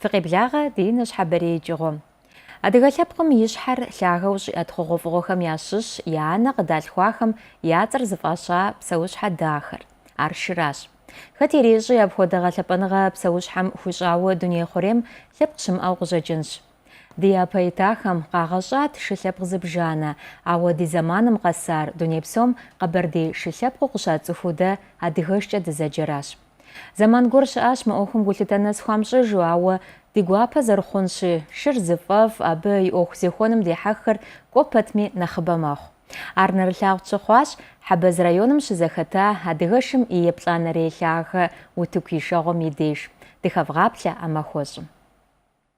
Фыкъеблагъэ ди нэщхьэбэрей икӏыгъуэм. Адыгэ лъэпкъым и щхьэр лъагэу щӏиӏэт хъугъуэфӏыгъуэхэм ящыщщ и анэ къыдалъхуахэм я цӏэр зыфӏаща псэущхьэ дахэр. Ар шыращ. Хэт ирещӏи, апхуэдэ гъэлъэпӏэныгъэ псэущхьэм хуищӏауэ дуней хъурейм лъэпкъ щымыӏэу къыщӏэкӏынщ. Ди япэ итахэм къагъэщӏат шы лъэпкъ зыбжанэ, ауэ ди зэманым къэсар дуней псом къэбэрдей шы лъэпкъыу къыщацӏыхуу дэ адыгэшкӏэ дызэджэращ. Зэман гуэр щыӏащ мы ӏуэхум гулъытэ нэс хуамыщӏыжу, ауэ ди гуапэ зэрыхъунщи, шыр зыфӏэфӏ, абы и ӏуэху зехуэным дехьэххэр кӏуэ пэтми нэхъыбэ мэхъу. Ар нэрылъагъу щыхъуащ Хьэбэз районым щызэхэта адыгэшым и еплӏанэрей лъагэ утыку ишэгъуэм и деж, дыхэвгъаплъэ а махуэщӏым.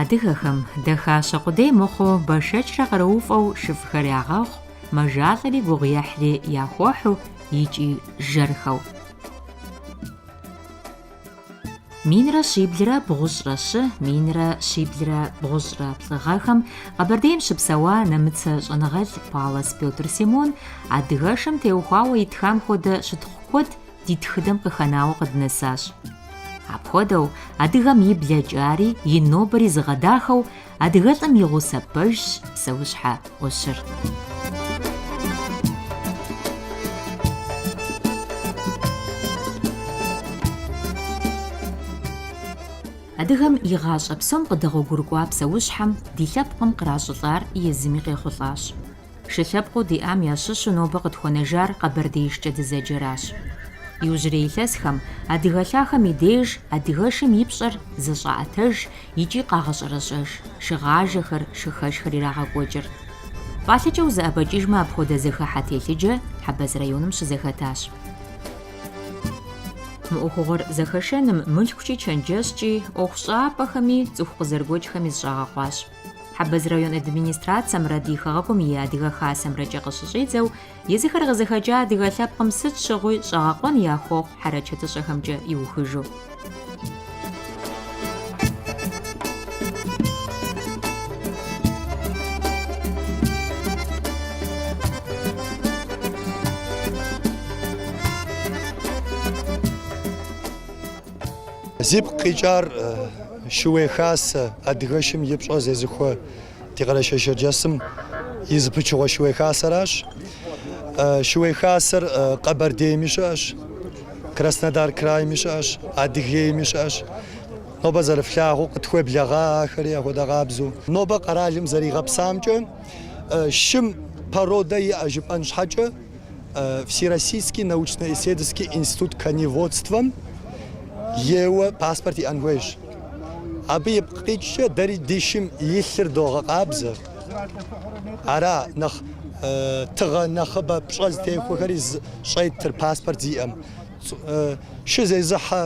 Адыгэхэм дахащэ къудей мыхъуу бэшэчрэ къарууфӏэу шыфӏхэр ягъэхъу, мэжалӏэри гугъуехьри яхуохьу икӏи жэрхэу. Минрэ щиблрэ бгъущӏрэ щы, минрэ щиблрэ бгъущӏрэ плӏы гъэхэм Къэбэрдейм щыпсэуа нэмыцэ щӏэныгъэлӏ Паллас Пётр Симон адыгэшым теухуауэ итхам хуэдэ щытхъу куэд Ди тхыдэм къыхэнауэ къыднэсащ. Апхуэдэу, адыгэм и блэкӏари, и нобэри зыгъэдахэу, адыгэлӏым и гъусэ пэжщ псэущхьэ ӏущыр. Адыгэм и гъащӏэ псом къыдэгъуэгурыкӏуа псэущхьэм ди лъэпкъым къращӏылӏар езыми къехъулӏащ. Шы лъэпкъыу диӏам ящыщу нобэ къытхуэнэжар къэбэрдеишкӏэ дызэджэращ. Иужьрей илъэсхэм, адыгэ лъахэм и деж адыгэшым и пщӏэр зэщӏаӏэтэж икӏи къагъэщӏэрэщӏэж, шыгъажэхэр, шыхэшхэр ирагъэкӏуэкӏыр. Пӏалъэкӏэ узэӏэбэкӏыжмэ апхуэдэ зэхыхьэ телъыджэ Хьэбэз районым щызэхэтащ. Мы ӏуэхугъуэр зэхэшэным мылъкукӏи чэнджэщкӏи, ӏуэхущӏапӏэхэми, цӏыху къызэрыгуэкӏхэми зыщӏагъэкъуащ. Хьэбэз район администрацэмрэ ди хэгъэгум и Адыгэ Хасэмрэкӏэ къыщыщӏидзэу, езыхэр къызыхэкӏа адыгэ лъэпкъым сыт щыгъуи щӏэгъэкъуэн яхуэхъу хьэрэчэтыщӏэхэмкӏэ иухыжу. Зипкъ къикӏар Шууей Хасэ, адыгэшым и пщӏэ зезыхуэ ди Къэрэшей-Шэрджэсым и зы пычыгъуэ Шууей Хасэращ. Шууей Хасэр Къэбэрдейми щыӏэщ, Краснодар крайми щыӏэщ, Адыгейми щыӏэщ. Нобэ зэрыфлъагъуу къытхуеблэгъа ахэри ахуэдэ къабзэу. Нобэ къэралым зэригъэпсамкӏэ, шым породэ иӏэ жыпӏэн щхьэкӏэ, Всероссийский научно-исследовательский институт коневодствэм еуэ паспорт иӏэн хуейщ. Абы ипкъ къикӏкӏэ дэри ди шым илъыр догъэкъабзэ. Ара нэхъ тыгъэ нэхъыбэ пщӏэ зытехуэхэри щӏеттыр паспорт зиӏэм. Шы зезыхьэ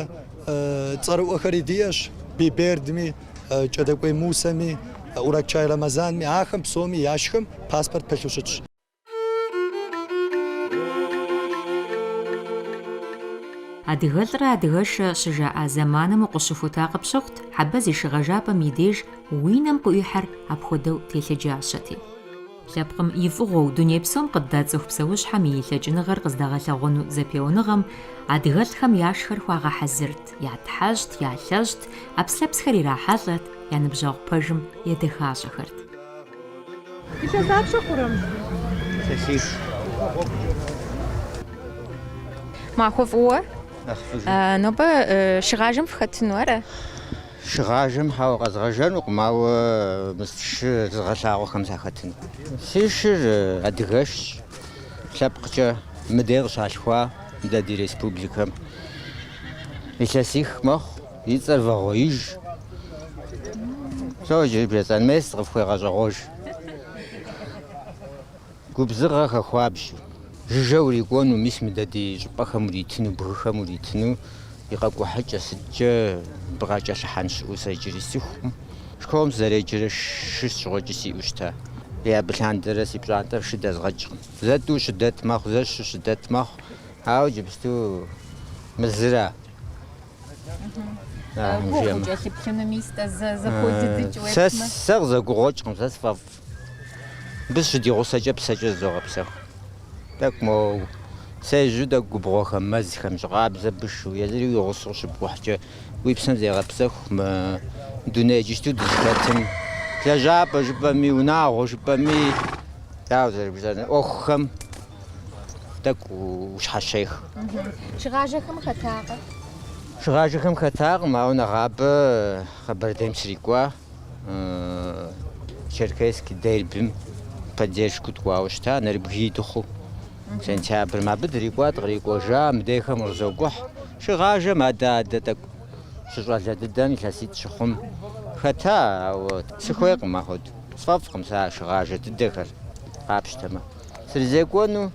цӏэрыӏуэхэри диӏэщ, Бибердми, Кӏэдэкӏуей Мусэми, Уракчай Рамазанми, ахэм псоми яшхэм паспорт пылъу щытщ. Адыгэлӏрэ адыгэшрэ щыжаӏа зэманым укъыщыхута къыпщыхъут, Хьэбэз и шыгъэжапӏэм и деж уи нэм къыӏуихьэр апхуэдэу телъыджащэти. Лъэпкъым и фӏыгъуэу дуней псом къыддацӏыху псэущхьэм и лъэкӏыныгъэр къыздагъэлъэгъуэну зэпеуэныгъэм адыгэлӏхэм яшхэр хуагъэхьэзырт, ятхьэщӏт, ялъэщӏт, ӏэпслъэпсхэр ирахьэлӏэрт, я ныбжьэгъу пэжым едэхащӏэхэрт. Махуэ фӏыуэ? Нэхъ фӏыжу. А, нобэ э, шыгъажэм фхэтыну ара? Шыгъажэм хьэуэ къэзгъэжэнукъым, ауэ мы шы зыгъэлъагъуэхэм сахэтыну. Си шыр э, адыгэшщ, лъэпкъкӏэ мыдей къыщалъхуа дэ ди республикэм. Илъэсих мэхъу. И цӏэр Вагъуэиж. Сэ иджыри блэцӏэн мес къыфхуегъэщӏэгъуэж. Губзыгъэхэ хуабжьу, жыжьэ урикӏуэну, мис мыдэ ди щӏыпӏэхэм уритыну, бгыхэм уритыну и къэкӏухьыкӏэ сыткӏэ бгъэкӏэлъыхьэн щыӏэу сэ иджыри сцӏыхукъым. Школым сызэреджэрэ шы сщыгъуэкӏи сиӏэу щыта. Абы лъандэрэ си пщӏантӏэр шы дэзгъэкӏкъым. Зэ тӏу щыдэт мэхъу, зэ щы щыдэт мэхъу, ауэ иджыпсту мы зыра? Гугъу кӏэлъыплъыну мис-тӏэ зэ зэхуэдыдыкӏ уесмэ. Сэ сэ къызэгугъуэкӏкъым, сэ сфӏэфӏ. Мыбы сыщригъусэкӏэ псэкӏэ зызогъэпсэху. Тӏэкӏу моуэ сежьу тӏэкӏу губгъуэхэм, мэзхэм, жьы къабзэ бышу, езыри уи гъусэу къыщыпкӏухькӏэ, уи псэм зегъэпсэху мы дуней иджыпсту дызыхэтым. Лэжьапӏэ жыпӏэми, унагъуэ жыпӏэми, дауэ зэрыжысӏэнур, ӏуэхухэм. тӏэкӏу ущхьэщех. Шыгъажэхэм хэтакъэ? Шыгъажэхэм хэтакъым, ауэ нэгъабэ Къэбэрдейм срикӏуа, Черкесский дербим поддержку ткӏуауэ щыта, нэрыбгий дыхъуу. Сентябрым абы дрикӏуа, дыкърикӏуэжа, мыдейхэм къызокӏухь. Шыгъажэм адэ-адэ тӏэкӏу щыщӏалэ дыдэм илъэситӏ щыхъум хэта, ауэ сыхуейкъым ахуэду. Сфӏэфӏкъым сэ а шыгъажэ дыдэхэр къапщтэмэ. Срызекӏуэну,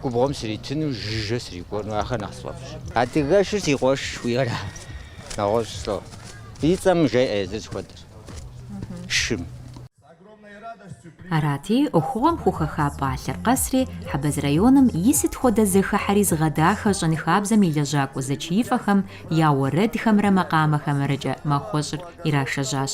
губгъуэм сритыну, жыжьэ срикӏуэну, ахэр нэхъ сфӏэфӏщ. Адыгэшыр си къуэш жыхуиӏэра? Нэгъуэщӏ слӏо. И цӏэм жеӏэ езыр зыхуэдэр. Шым. Арати, ӏуэхугъуэм хухэха пӏалъэр къэсри, Хьэбэз районым и сыт хуэдэ зэхыхьэри зыгъэдахэ щӏэныхабзэм и лэжьакӏуэ зэчиифӏэхэм я уэрэдхэмрэ макъамэхэмрэкӏэ махуэщӏыр ирашэжьащ.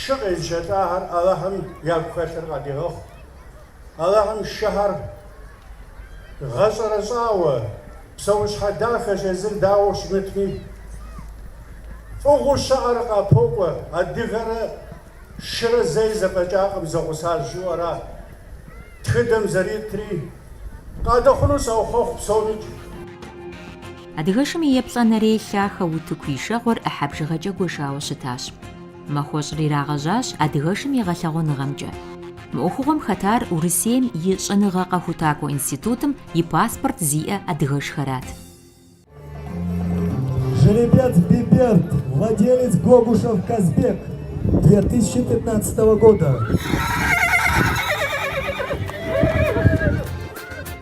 шы къезыщэлӏахэр Алыхьым ягу хэлъыр къадигъэхъу. Алыхьым шыхэр гъэщӏэрэщӏауэ, псэущхьэ дахэщ, езыр дауэ щымытми, фӏыгъуу щыӏэр къапокӏуэ. Адыгэрэ шырэ зэи зэфӏэкӏакъым, зэгъусащ жыӏуэра тхыдэм зэритри. Къадэхъуну саухъуэхъу псомикӏ. Адыгэшым и еплӏанэрей лъахэ утыку ишэгъуэр ӏыхьэ бжыгъэкӏэ гуэшауэ щытащ. Махуэщӏыр ирагъэжьащ адыгэшым и гъэлъэгъуэныгъэмкӏэ. Мы ӏуэхугъуэм хэтар Урысейм и Щӏэныгъэ къэхутакӏуэ институтым и паспорт зиӏэ адыгэшхэрат. Жеребец Биберд, владелец Гогушев Казбек, две тысячи пятнадцатого года.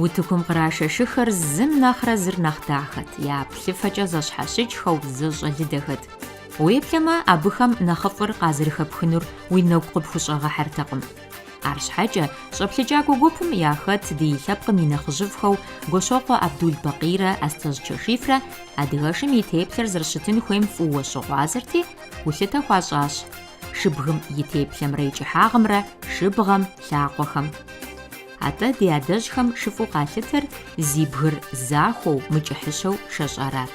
Утыкум кърашэ шыхэр зым нэхърэ зыр нэхъ дахэт, я плъыфэкӏэ зэщхьэщыкӏхэу зэщӏэлыдэхэт. Уеплъэмэ, абыхэм нэхъыфӏыр къазэрыхэпхынур уи нэгу къыпхущӏэгъэхьэртэкъым. Арщхьэкӏэ, щӏэплъыкӏакӏуэ гупым яхэт ди лъэпкъым и нэхъыжьыфӏхэу Гуащокъуэ Абдул-Бакъийрэ Астэжь Чэшифрэ адыгэшым и теплъэр зэрыщытын хуейм фӏыуэ щыгъуазэрти, гулъытэ хуащӏащ шыбгым и теплъэмрэ и кӏыхьагъымрэ шыбгъэм, лъакъуэхэм. Атӏэ ди адэжьхэм шыфӏу къалъытэр зи бгыр захуэу, мыкӏыхьыщэу шэщӏарат.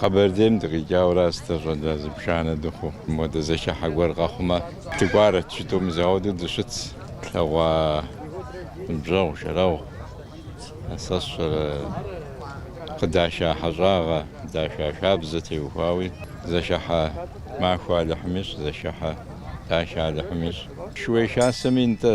Къэбэрдейм дыкъикӏауэ аращ дэ, щӏалэ зыбжанэ дыхъуу. Мыуэдэ зэхыхьэ гуэр къэхъумэ, дыкӏуарэт жытӏэу мис ауэдэу дыщыт. Тлъэгъуа ныбжьэгъу, шэрэгъу сэ сщӏэрэ къыдаша хьэщӏагъэ, къыдаша хабзэ теухуауи, зэхыхьэ махуэ Алыхьым ищӏ, зэхыхьэ дашэ Алыхьым ищӏ. Шууей Хасэми нтӏэ.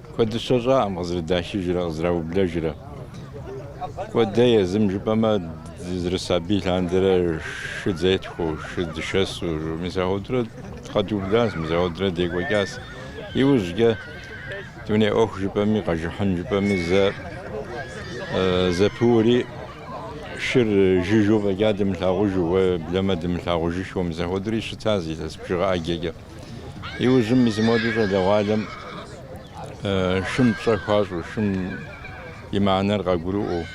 Куэдыщэ щӏакъым къызэрыдахыжрэ къызэраублэжрэ. Куэдэ езым жыпӏэмэ, дызэрысабий лъандэрэ шыд зетхуэу, шы дышэсу, мис ахуэдурэ къэдублащ, мис ахуэдурэ декӏуэкӏащ. Иужькӏэ дуней ӏуэху жыпӏэми, къэжыхьын жыпӏэми зэ зэпыури, шыр жыжьу фӏэкӏа дымылъагъужу, уеблэмэ дымылъагъужышэу, мис ахуэдури щытащ илъэс бжыгъэ ӏэджэкӏэ. Иужьым мис модэу щӏалэгъуалэм шым пщӏэ хуащӏу, шым и мыхьэнэр къагурыӏуэу,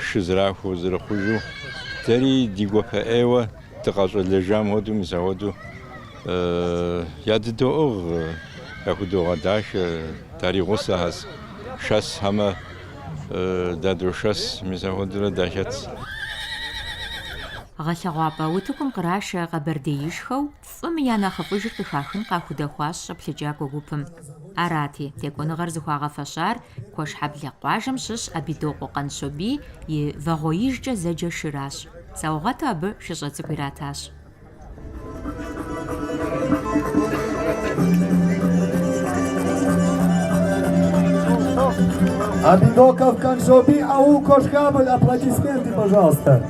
шы зрахуэу, зэрыхъужу, дэри ди гуапэ ӏейуэ дыкъэщӏэлэжам хуэдэу, мис ахуэдэу ядыдоӏыгъ, яхудогъэдахэ, даригъусэхэщ, шэсхэмэ дадошэс, мис ахуэдэурэ дахэтщ. Гъэлъэгъуапӏэ утыкум кърашэ къэбэрдеишхэу, Фӏым я нэхъыфӏыжыр къыхахын къахудэхуащ щӏэплъыкӏакӏуэ гупым. Арати, текӏуэныгъэр зыхуагъэфэщар Куэшхьэблэ къуажэм щыщ Абидокъуэ Къанщобий и Вагъуэижкӏэ зэджэ шыращ. Саугъэту абы шыщӏэ цӏыкӏу иратащ. Абидоков Каншобий, аул Кошехабль, аплодисменты, пожалуйста.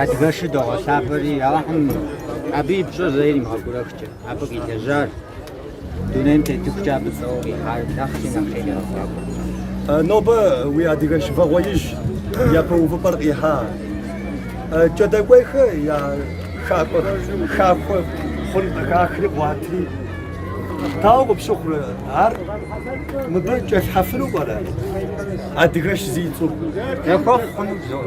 Адыгэшыр догъэлъапӏэри Алыхьым абы и пщӏэр зэи иримыгъэгурэхкӏэ, абы къилэжьар, дунейм тетыхукӏэ абы цӏэуэ къихьар нэхъри нэхъ иригъэфӏакӏуэ. Нобэ уи адыгэш Вагъуэиж япэ увыпӏэр къихьа Кӏэдыкӏуейхэ я хакӏуэ хахуэ хъун къыхахри къуатри, дауэ къыпщыхъурэ ар мыбы кӏэлъхьэфыну пӏэрэ адыгэш зи цӏэу? Яхуэхъу хъунут зор.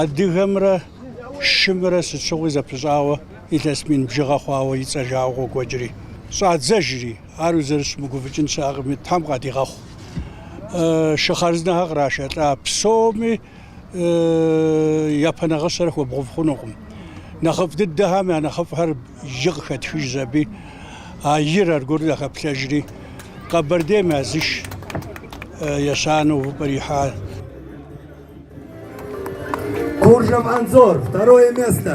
Адыгэмрэ шымрэ сыт щыгъуи зэпыщӏауэ илъэс мин бжыгъэ хъуауэ и цӏэ жаӏэу къокӏуэкӏри, щӏадзэжри, ар узэрыщымыгуфӏыкӏын щыӏэкъыми, Тхьэм къадигъэхъу. Шы хъарзынэхэр кърашэлӏа псоми япэ нагъыщэр хуэбгъэув хъунукъым. Нэхъыфӏ дыдэхэм я нэхъыфӏхэр. И къыхэтхыжщ аби, а ир аргуэру яхэплъэжри, Къэбэрдейм я зыш ещанэу увыпӏэр ихьащ. Куржев Анзор, второе место.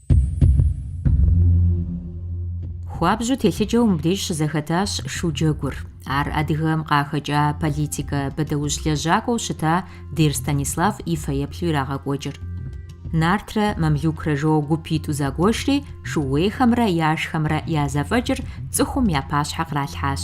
Хуабжьу телъыджэу мыбдеж щызэхэтащ шу джэгур. Ар Адыгэм къахэкӏа политикэ бэдаущ лэжьакӏуэу щыта Дер Станислав и фэеплъу ирагъэкӏуэкӏыр. Нартрэ мамлюкрэ жоуэ гупитӏу загуэшри, шууейхэмрэ яшхэмрэ я зэфӏэкӏыр цӏыхум я пащхьэ къралъхьащ.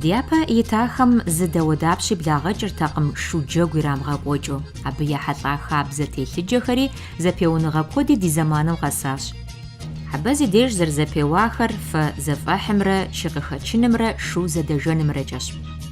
Дяпэ итахэм зы дауэдапщи благъэкӏыртэкъым шу джэгу ирамыгъэкӏуэкӏыу. Абы ехьэлӏа хабзэ телъыджэхэри зэпеуныгъэ куэди ди зэманым къэсащ. Абы зи деж зэрызэпеуахэр фэ зэфӏэхьымрэ шы къыхэчынымрэ шу зэдэжэнымрэкӏэщ.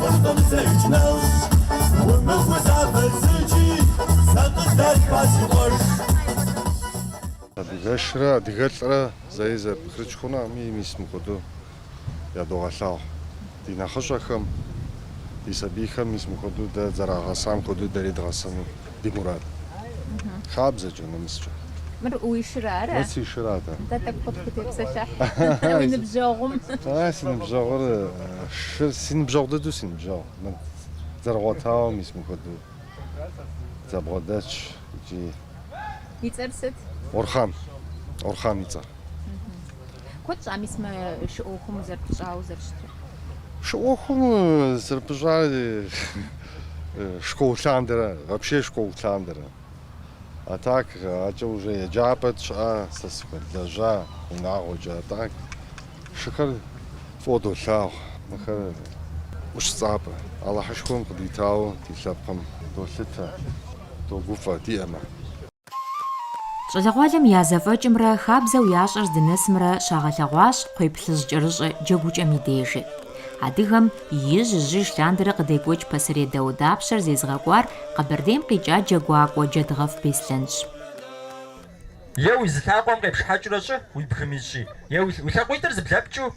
Къыщӏдэмысэж нэужь, умыгу сабэзыджи, сэ къыздэшхуа си къуэш. Адыгэшрэ адыгэлӏрэ зэи зэкӏэрыпч хъунукъыми, мис мыхуэдэу ядогъэлъагъу ди нэхъыщӏэхэм, ди сабийхэм мис мыхуэдэу дэ дызэрагъэсам хуэдэу дэри дгъэсэну. ди мурад. Хабзэкӏэ, нэмыскӏэ. Мыр уи шыр ара? Мыр си шыр атӏэ. Нтӏэ, тӏэкӏу къытхутепсэлъыхь уи ныбжьэгъум. А, си ныбжьэгъур шыр, си ныбжьэгъу дыдэу си ныбжьэгъу. Мыр зэрыгъуэтауэ мис мыхуэдэу зэбгъэдэтщ икӏи. И цӏэр сыт? Орхъан. Орхъан и цӏэр. Куэд щӏа мис мы шы ӏуэхум узэрыпыщӏауэ зэрыщытыр? Шы ӏуэхум зэрыпыщӏар Школ лъандэрэ, вообще школ лъандэрэ. А так, акӏэ уже еджапӏэ тщӏа, сэ сыхуэлэжьа унагъуэкӏэ, а так, шыхэр фӏыуэ долъагъу. Мыхэр ӏущ цӏапӏэ. Алыхьышхуэм къыдитауэ ди лъэпкъым долъытэ, догуфӏэ, диӏэмэ. Щӏалэгъуалэм я зэфӏэкӏымрэ хабзэу ящӏэр здынэсымрэ щагъэлъэгъуащ кхъуейплъыжькӏэрыщӏэ джэгукӏэм и дежи. Адыгэм ижь-ижьыж лъандэрэ къыдекӏуэкӏ пасэрей дауэдапщэр зезыгъэкӏуар Къэбэрдейм къикӏа джэгуакӏуэ Джэдгъэф Беслъэнщ. Е уи зы лъакъуэм къепшхьэкӏыурэ щӏы уи бгым ищӏи, е уи лъакъуитӏыр зыблэпкӏыу.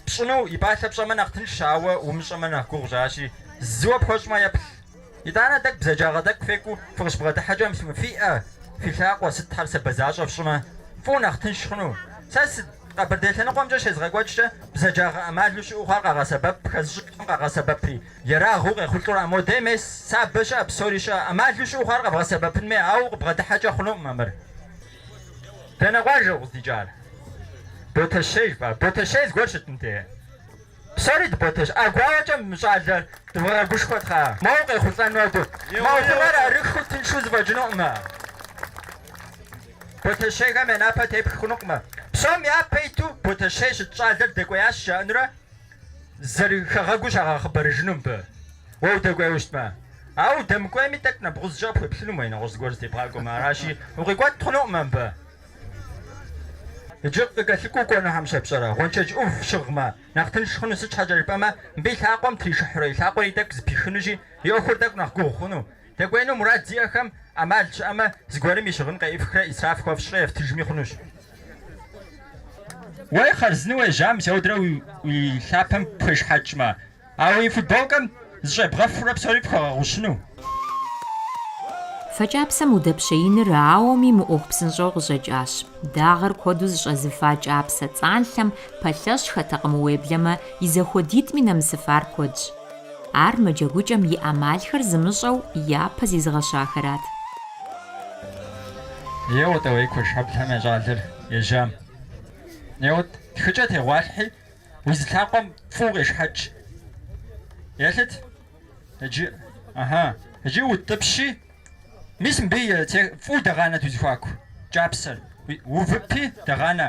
Пщӏыну и пӏалъэ пщӏэмэ нэхъ тыншщ, ауэ умыщӏэмэ нэхъ гугъущ, аращи, зыуэ пхуэщӏмэ еплъ. Итӏанэ тӏэкӏу бзаджагъэ тӏэкӏу фекӏуу фыкъыщыбгъэдыхьэкӏэм фи ӏэ, фи лъакъуэ сытхэр сабэ защӏэ фщӏымэ, фӏыуэ нэхъ тынш хъуну. Сэ Къэбэрдей лъэныкъуэмкӏэ щезгъэкӏуэкӏкӏэ бзаджагъэ ӏэмалу щыӏэу хъуар къагъэсэбэп, хэзыщӏыкӏым къагъэсэбэпри, ерагъыу къехъулӏэу ара, модэ мес сабэ щыӏэ, псори щыӏэ, ӏэмалу щыӏэу хъуар къэбгъэсэбэпынми, ауэ къыбгъэдыхьэкӏэ хъунукъымэ мыр. Дэнэ къуажэ укъыздикӏар? Ботэщей жыпӏа? Ботэщей зыгуэр щыт мыдэ? Псори дыботэщ. ӏэгуауэкӏэ мы щӏалэ дывгъэгушхуэ тхьэ. Моуэ къехъулӏэну абы? Мы ӏуэхур арыххэу тыншу зэфӏэкӏынукъымэ. Ботэщейхэм я напэ тепх хъунукъымэ. Псом япэ иту Ботэщей щыщ щӏалэр дэкӏуеящ жаӏэнурэ. Зэрыхэгъэгуу щагъэхъыбарыжыну мыбы. Уэ удэкӏуейуэ щытмэ. Ауэ удэмыкӏуейми, тӏэкӏу нэбгъузкӏэ къыпхуеплъынумэ, уэ нэгъуэщӏ зыгуэр зытебгъакӏуэмэ. Аращи, укъикӏуэт хъунукъымэ мыбы. Иджы къыкӏэлъыкӏуэу кӏуэнухэм щепщӏэрэ? Гъуэншэдж ӏув щыгъмэ, нэхъ тынш хъуну сыт щхьэкӏэ жыпӏэмэ, мыбы и лъакъуэм тришыхьурэ и лъакъуэри тӏэкӏу зыпихынущи, и ӏуэхур тӏэкӏу нэхъ гугъу хъуну. Дэкӏуеину мурад зиӏэхэм ӏэмал щыӏэмэ, зыгуэрым и щыгъын къеӏыфхрэ исраф хуэфщӏрэ ефтыжми хъунущ. Уэ хъарзынэу уежьам зэудрэ уи лъапэм пхуешхьэкӏмэ, а уи футболкэм зыщӏебгъэфурэ псори пхуэгъэгъущыну? Фэкӏапсэм удэпщеиныр ауэми мыӏуэху псынщӏэу къыщӏэкӏащ. Дагъэр куэду зыщӏэзыфа кӏапсэ цӏанлъэм пэлъэщхэтэкъым, уеблэмэ и зэхуэдитӏми нэмысыфар куэдщ. Ар мы джэгукӏэм и ӏэмалхэр зымыщӏэу япэ зизыгъэщахэрат. Еуэ тӏэ, уей, Куэшхьэблэм я щӏалэр ежьам. Еуэт, тхыкӏэ тегъуалъхьи, уи зы лъакъуэм фӏыуэ къешхьэкӏ. Елъыт иджы, ыхьы, иджы утӏыпщи, мис мыбы фӏыуэ дэгъанэт уи зэхуаку кӏапсэр, увыпи дэгъанэ.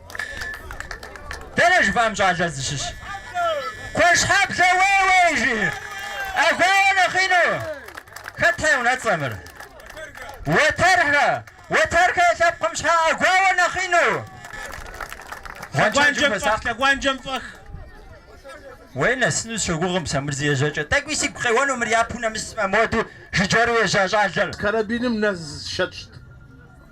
Дэнэ жыфӏам щӏалэ зыщыщ? Куэшхьэблэ уей-уей жи. Ӏэгуауэ нэхъ ину. Хэтхэ и унэцӏэ мыр? Уэтэрхэ. Уэтэрхэ лъэпкъым щхьа ӏэгуауэ нэхъ ину? Гъуэншэджым Лъэгуанджэм фӏэх, хуэсакъ. лъэгуанджэм фӏэх. Уей, нэсыну сщогугъым сэ мыр зи ежьэкӏэ. Тӏэкӏуи сигу къеуэну мыр япэу нэмысмэ, моду жыджэру ежьа щӏалэр. Карабиным нэз щэтщт.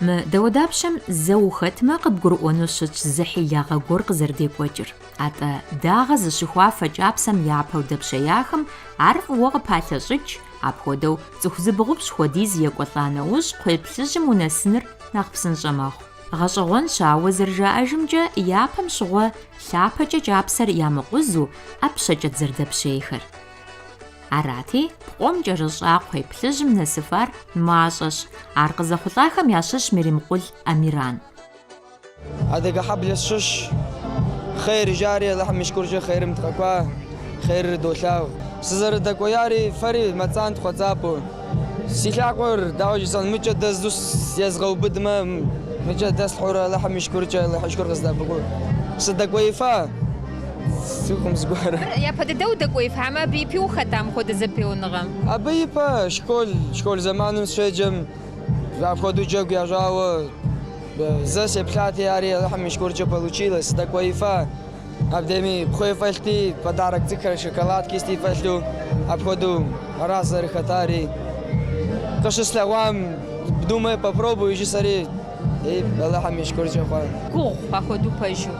Мы дауэдапщэм зэ ухэтмэ, къыбгурыӏуэну щытщ зы хьилагъэ гуэр къызэрыдекӏуэкӏыр. Атӏэ, дагъэ зыщыхуа фэ кӏапсэм япэу дэпщеяхэм ар фӏыуэ къыпалъэщӏыкӏ, апхуэдэу цӏыху зыбгъупщӏ хуэдиз екӏуэлӏа нэужь кхъуей плъыжьым унэсыныр нэхъ псынщӏэ мэхъу. Гъэщӏэгъуэнщ, ауэ зэрыжаӏэжымкӏэ, япэм щыгъуэ лъапэкӏэ кӏапсэр ямыкъузу, ӏэпщэкӏэт зэрыдэпщейхэр. Арати, пкъом кӏэрыщӏа кхъуей плъыжьым нэсыфар мащӏэщ, ар къызэхъулӏахэм ящыщ Меримкъул Амиран. Адыгэ хьэблэ сщыщ. Хъер ижари, Алыхьым и шкуркӏэ хъерым дыкъэкӏуа, хъерыр долъагъу. Сызэрыдэкӏуеяри, фэри мэцӏантхъуэ цӏапӏэу. Си лъакъуэр, дауэ жысӏэн, мыкӏэ дэздзу езгъэубыдмэ, мыкӏэ дэслъхьурэ Алыхьым и шкуркӏэ, Алыхьи шкур къыздэбгъу. Сыдэкӏуеифа цӏыхум зыгуэру. Япэ дыдэу удэкӏуеифамэ, абы ипи ухэта мыхуэдэ зэпеуныгъэм? Абы ипэ школ, школ зэманым сщеджэм, апхуэдэу джэгу ящӏауэ зэ сеплъати, ари Алыхьым и шкуркӏэ получилось, сыдэкӏуеифа. Абдеми кхъуей фӏэлъти, подарок цӏыкӏхэр, шоколадки сыти фӏэлъу, апхуэдэу аращ зэрыхэтари. Къыщыслъэгъуам думаю, попробую жысӏэри и Алыхьым и шкуркӏэ хъуа. Гугъу апхуэдэу пэжу.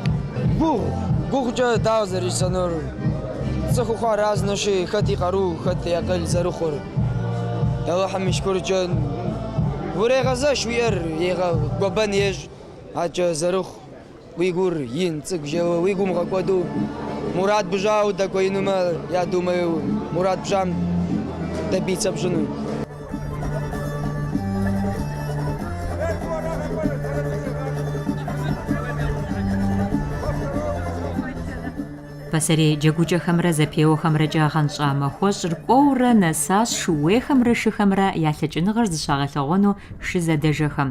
Гугъу, гугъукӏэ дауэ зэрыжысӏэнур? Цӏыху хъуар разнэщи, хэт и къару, хэт и акъыл зэрыхъур. Алыхьым и шкуркӏэ урегъэзэш уи ӏэр, егъэ, гуэбэн ещӏ, акӏэ зэрыхъу. Уи гур ин цӏыкӏу жэуэ уи гу умгъэкӏуэду, мурад пщӏауэ удэкӏуеинумэ, я думаю мурад пщӏам добиться пщӏыну. Пасэрей джэгукӏэхэмрэ зэпеуэхэмрэкӏэ гъэнщӏа махуэщӏыр кӏуэурэ нэсащ шууейхэмрэ шыхэмрэ я лъэкӏыныгъэр зыщагъэлъэгъуэну шызэдэжэхэм.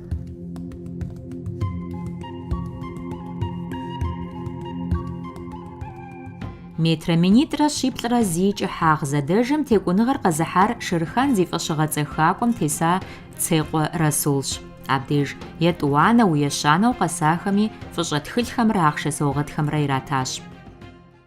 Метрэ минитӏрэ щиплӏрэ зи кӏыхьагъ зэдэжэм текӏуныгъэр къэзыхьар Шэрхан зи фӏэщыгъэцӏэ хакӏуэм теса Цекъуэ Расулщ. Абдеж етӏуанэу, ещанэу къэсахэми фӏыщӏэ тхылъхэмрэ ахъшэ саугъэтхэмрэ иратащ.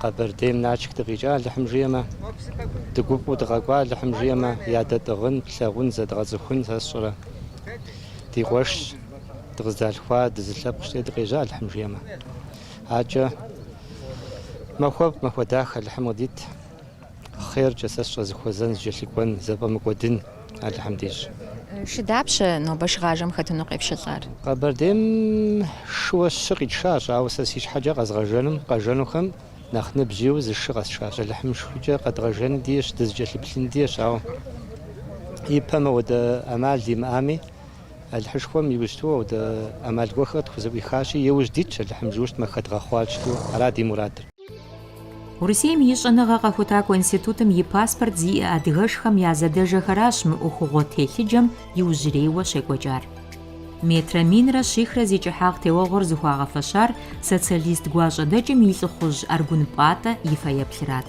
Къэбэрдейм Налшык дыкъикӏа Алыхьым жиӏэмэ, дыгуфӏэу дыкъэкӏуа Алыхьым жиӏэмэ, ядэтӏыгъын, плъагъун, зэдгъэцӏыхун сэ сщӏэрэ? Ди къуэшщ, дыкъыздалъхуа, дызы лъэпкъщи дыкъежьа Алыхьым жиӏэмэ? Акӏэ махуэфӏ, махуэ дахэ Алыхьым къыдит. Хъеркӏэ, сэ сщӏэ, зэхуэзэн, зэкӏэлъыкӏуэн, зэфӏэмыкӏуэдын, Алыхьым дищӏ. Шы дапщэ нобэ шыгъажэм хэтыну къепшэлӏар? Къэбэрдейм шыуэ щы къитшащ, ауэ сэ си щхьэкӏэ къэзгъэжэным, къэжэнухэм нэхъ ныбжь иӏэу зы шы къэсшащ. Алыхьым фӏыкӏэ къэдгъэжэн дищӏ, дызыкӏэлъыплъын дищӏ, ауэ ипэм ауэдэ ӏэмал имыӏами, Алыхьышхуэм иджыпсту ауэдэ ӏэмал гуэхэр къытхузэӏуихащи, иужь дитщ, Алыхьым жиӏэу щытмэ, хэдгъэхъуар щыту, ара ди мурадыр. Урысейм и щӏэныгъэ къэхутакӏуэ институтым и паспорт зиӏэ адыгэшхэм я зэдэжэхэращ мы ӏуэхугъуэ телъыджэм иужьрейуэ щекӏуэкӏар. Метрэ минрэ щихрэ зи кӏыхьагъ теуэгъуэр зыхуагъэфэщар социалист гуащӏэдэкӏым и лӏыхъужь Аргун Пӏатӏэ и фэеплъырат.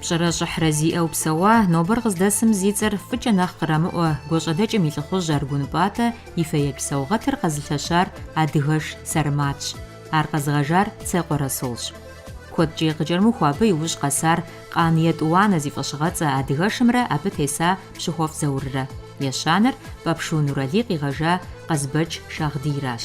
Пщӏэрэ щӏыхьрэ зиӏэу псэуа, нобэр къыздэсым зи цӏэр фӏыкӏэ нэхъ кърамыӏуэ Гуащӏэдэкӏым и лӏыхъужь Аргун Пӏатӏэ и фэеплъ саугъэтыр къэзылъэщар адыгэш Сэрматщ, ар къэзыгъэжар Цекъуэ Расулщ. Куэдкӏи къыкӏэрымыхуу абы и ужь къэсар Къан Етӏуанэ зи фӏэщыгъэцӏэ адыгэшымрэ абы теса Пщыхуэфӏ Зауррэ, ещанэр Пӏэпшу Нурали къигъэжа Къазбэч Шагъдийращ.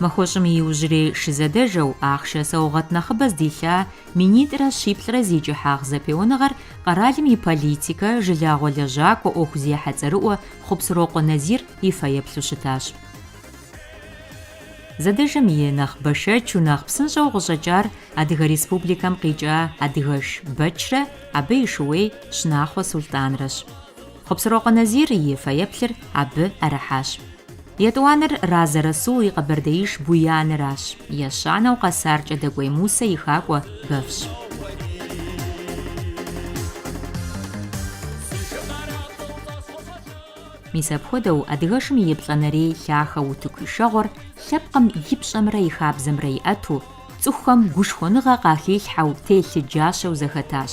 Махуэщӏым и иужьрей шызэдэжэу, ахъшэ саугъэт нэхъыбэ здилъа минитӏрэ щиплӏрэ зи кӏыхьагъ зэпеуэныгъэр къэралым и политикэ, жылагъуэ лэжьакӏуэ, ӏуэхузехьэ цӏэрыӏуэ Хъупсырокъуэ Назир и фэеплъу щытащ. Зэдэжэм и нэхъ бэшэчу, нэхъ псынщӏэу къыщӏэкӏар Адыгэ Республикэм къикӏа адыгэш Бэчрэ абы и шууей Щынахъуэ Сулътӏанрэщ. Хъупсырокъуэ Назир и фэеплъыр абы ӏэрыхьащ. Етӏуанэр Разэ Расул и къэбэрдеиш Буяныращ, ещанэу къэсар Кӏэдэкӏуей Мусэ и хакӏуэ Бэвщ. Мис апхуэдэу адыгэшым и еплӏэнэрей лъахэ утыку ишэгъуэр лъэпкъым и пщӏэмрэ и хабзэмрэ иӏэту, цӏыхухэм гушхуэныгъэ къахилъхьэу телъыджащэу зэхэтащ.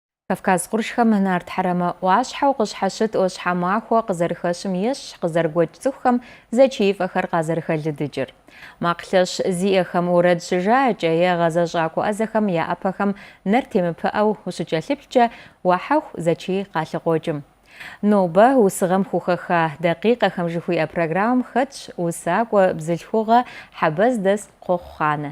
Кавказ къуршхэм нарт хьэрэмэ ӏуащхьэу къыщхьэщыт ӏуащхьэмахуэ къызэрыхэщым ещхь къызэрыгуэкӏ цӏыхухэм зэчиифӏэхэр къазэрыхэлыдыкӏыр. Макъ лъэщ зиӏэхэм уэрэд щыжаӏэкӏэ е гъэзэщӏакӏуэ ӏэзэхэм я ӏэпэхэм нэр темыпыӏэу ущыкӏэлъыплъкӏэ уахьэху зэчий къалъыкъуокӏым. Нобэ усыгъэм хухэха Дакъикъэхэм жыхуиӏэ программэм хэтщ усакӏуэ бзылъхугъэ Хьэбэз дэс Кхъуэхъу Хъанэ.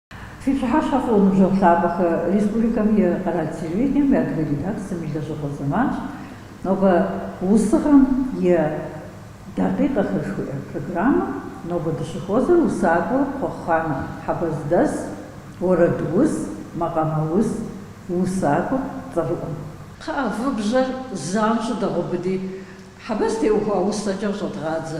Фи пщыхьэщхьэ фӏыуэ ныбжьэгъу лъапӏэхэ, республикэм и къэрал телевидением и адыгэ редакцэм и лэжьыгъуэ зэманщ. Нобэ усыгъэм и дакъикъэхэр жыхуиӏэ программэм нобэ дыщыхуэзэр усакӏуэ Кхъуэхъу Хъанэ Хьэбэз дэс, уэрэдус, макъамэус, усакӏуэ цӏэрыӏуэм. Кхъыӏэ, вы бжьэр занщӏэу дэгъубыди, Хьэбэз теухуа усэкӏэ къыщӏэдгъадзэ.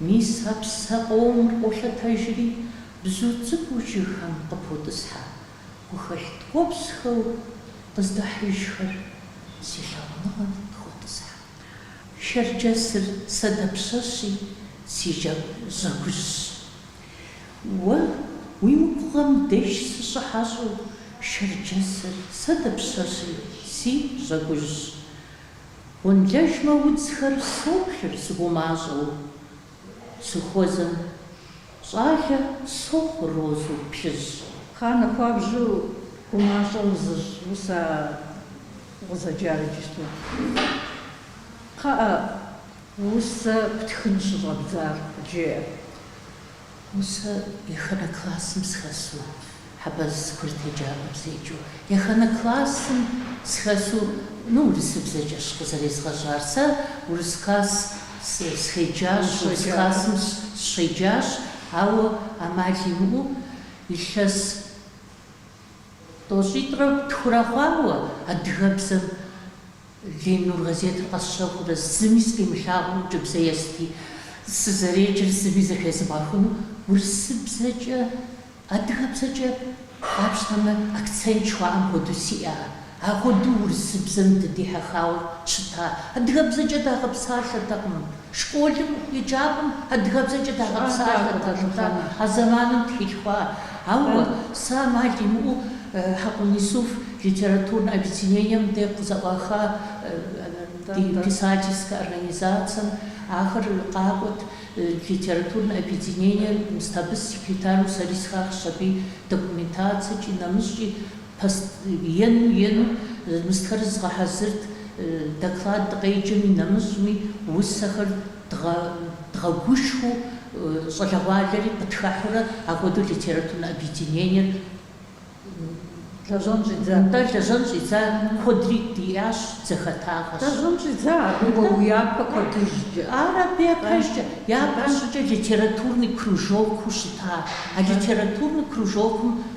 Мис а псэ къомыр къолъэтэжри, бзу цӏыкӏуу жыгхэм къыпотӏысхьэ гухэлъ ткӏуэпсхэу къыздахьыжхэр си лъагъуныгъэм къыхотӏысхьэ. Шэрджэсыр сэ дапщэщи си жьэгужьщ. Уэ уи губгъуэм деж сыщыхьэщӏэу, шэрджэсыр сэ дапщэщи си жьэгужьщ. Гъуэнлэжмэ удзхэр соплъыр сыгумащӏэу, сыхуэзэм щӏалэ сохъу розэу плъыжь. Хъанэ хуабжьу гумащӏэ узыщӏ усэ укъызэджар иджыпсту. Кхъыӏэ, усэ птхын щыщӏэбдзар, къыджеӏэ. Усэ ехэнэ классым схэсу Хьэбэз курыт еджапӏэм седжэу. Ехэнэ классым схэсу, ну, урысыбзэкӏэщ къызэрезгъэжьар. Сэ урыс класс схеджащ, урыс классым сщеджащ, ауэ ӏэмал имыӏэу илъэс тӏощӏитӏрэ тхурэ хъуауэ адыгэбзэм Ленин нур газетыр къэсщэхурэ зыми сыкъимылъагъуу ӏункӏыбзэ ести, сызэреджэр зыми зэхезмыгъэхыну урысыбзэкӏэ, адыгэбзэкӏэ, къапщтэмэ, акцент жыхуаӏэм хуэдэу сиӏа? Апхуэдэу урысыбзэм дыдихьэхауэ щыта, адыгэбзэкӏэ дагъэпсалъэртэкъым. Школым, еджапӏэм адыгэбзэкӏэ дагъэпсалъэртэкъым, а зэманым дыхалъхуа. Ауэ, сэ амал имыӏэу Хьэкъун Исуф литературнэ объединением де къызэӏуаха ди писательскэ организацэм ахэр къакӏуэт, литературнэ объединением сыт абы секретару сэри схахщ, абы и документацэкӏи, нэмыщӏкӏи. Пост ену ену мыстхэр згъэхьэзырт, доклад дыкъеджэми нэмыщӏми усэхэр дгъэгушхыу щӏалэгъуалэри къытхэхьурэ апхуэдэу литературнэ объединениер лэжьэн щӏидза. Нтӏэ, лэжьэн щӏидза куэдри диӏащ, дызэхэтагъэщ. Лэжьэн щӏидза, абы уэ уи япэ кӏуэдыжкӏэ. Ар абы япэжкӏэ, япэ щӏыкӏэ литературный кружокыу щыта, а литературный кружокым.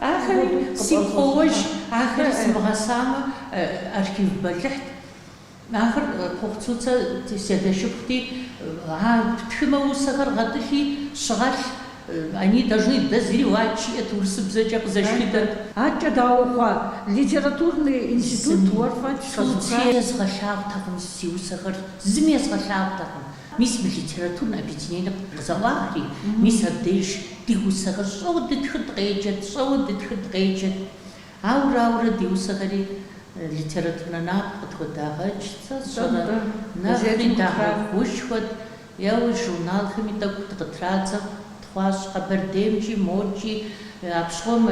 Ахэри сигу къоуэж, ахэр сымыгъэсамэ, архив бэлыхьт. Ахэр Кхъуэхъу Цуцэ си адэ шыпхъути, а птхымэ усэхэр гъэтӏылъи щыгъэлъ, они должны дозревать жиӏэт, урысыбзэкӏэ къызэшхыдэт. Адэкӏэ дауэ хъуа, литературный институт уэр фӏэкӏ къэзухащ. Цуци езгъэлъагъутэкъым си усэхэр, зыми езгъэлъагъутэкъым. Мис мы литературнэ объединениер къызэӏуахри, мис абдежщ ди усэхэр щӏэуэ дытхыр дыкъеджэт, щӏэуэ дытхыр дыкъеджэт. Ауэрэ, ауэрэ ди усэхэри литературнэ напэ къытхуэдагъэкӏ, сэ сщӏэрэ, нэхъри дагъэгушхуэт, е журналхэми тӏэкӏу дыкъытрадзэу. Хъуащ Къэбэрдеймкӏи, мокӏи, апщыгъуэм,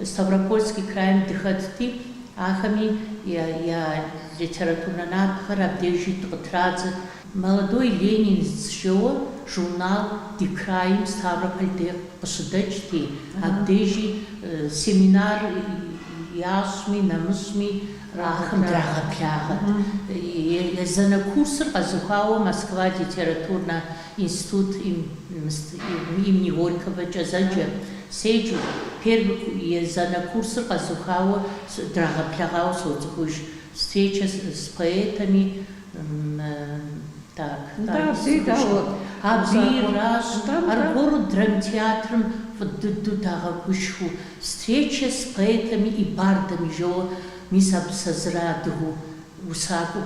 Ставропольский крайм дыхэтти, ахэми я литературнэ напэхэр абдежи дыкъытрадзырт. Молодой ленинец жоуэ журнал ди крайм Ставрополь де къыщыдэкӏти, абдежи семинар ящӏми, нэмыщӏми ахэм драгъэблагъэрт. Езанэ курсыр къэзухауэ Москва литературнэ Институт имени Горькогокӏэ зэджэ, седжу, первый ку езанэ курсыр къэзухауэ с драгъэблэгъауэ соцӏыхуж. Встреча с с поэтами м так, так, скучно. Абдейращ аргуэру драмтеатрым фӏы дыдэу дагъэгушхыу, Встреча с поэтами и бардами жоуэ, мис абы сэ зыра адыгэу усакӏуэу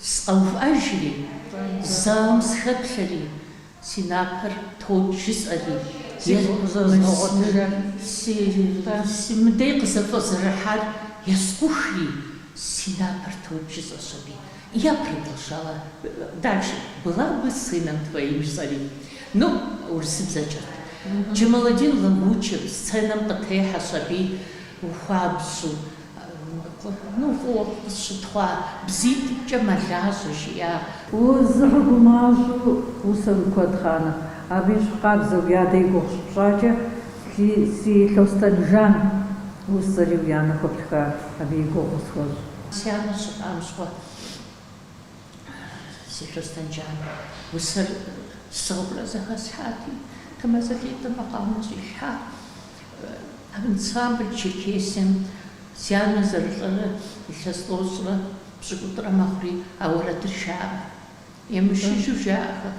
Сыкъэувыӏэжри, залым сыхэплъэри, си напэр токӏ жысӏэри, мыдей къызэфӏэзэрыхьар ескъухри, си напэр токӏ жысӏэщ аби. Я продолжала дальше. Была бы сыном твоим жысӏэри. Ну, урысыбзэкӏэт. Джамаладин Лагучев сценэм къытехьэщ аби хуабжьу. Ну, фӏыуэ къысщытхъуа бзитӏымкӏэ мэлажьэ, жиӏар. Узыгъэгумащӏэу усэм куэд хъанэ. Абы ещхьу къабзэу, уи адэ и гугъу щыпщӏакӏэ, си Лъостэнжан усэри уи анэ хуэптха, абы и гугъу къысхуэщӏ. Си анэр щылӏам щыгъуэ, си Лъостэнжан усэр сыгъыурэ зэхэслъхьати, Тэмаз Лидэ макъамэ щӏилъхьа. Ансамбль Черкесием си анэ зэрылӏэрэ илъэс тӏощӏрэ пщыкӏутӏрэ мэхъури а уэрэдыр жаӏэ. Емышыжу жаӏэхэ,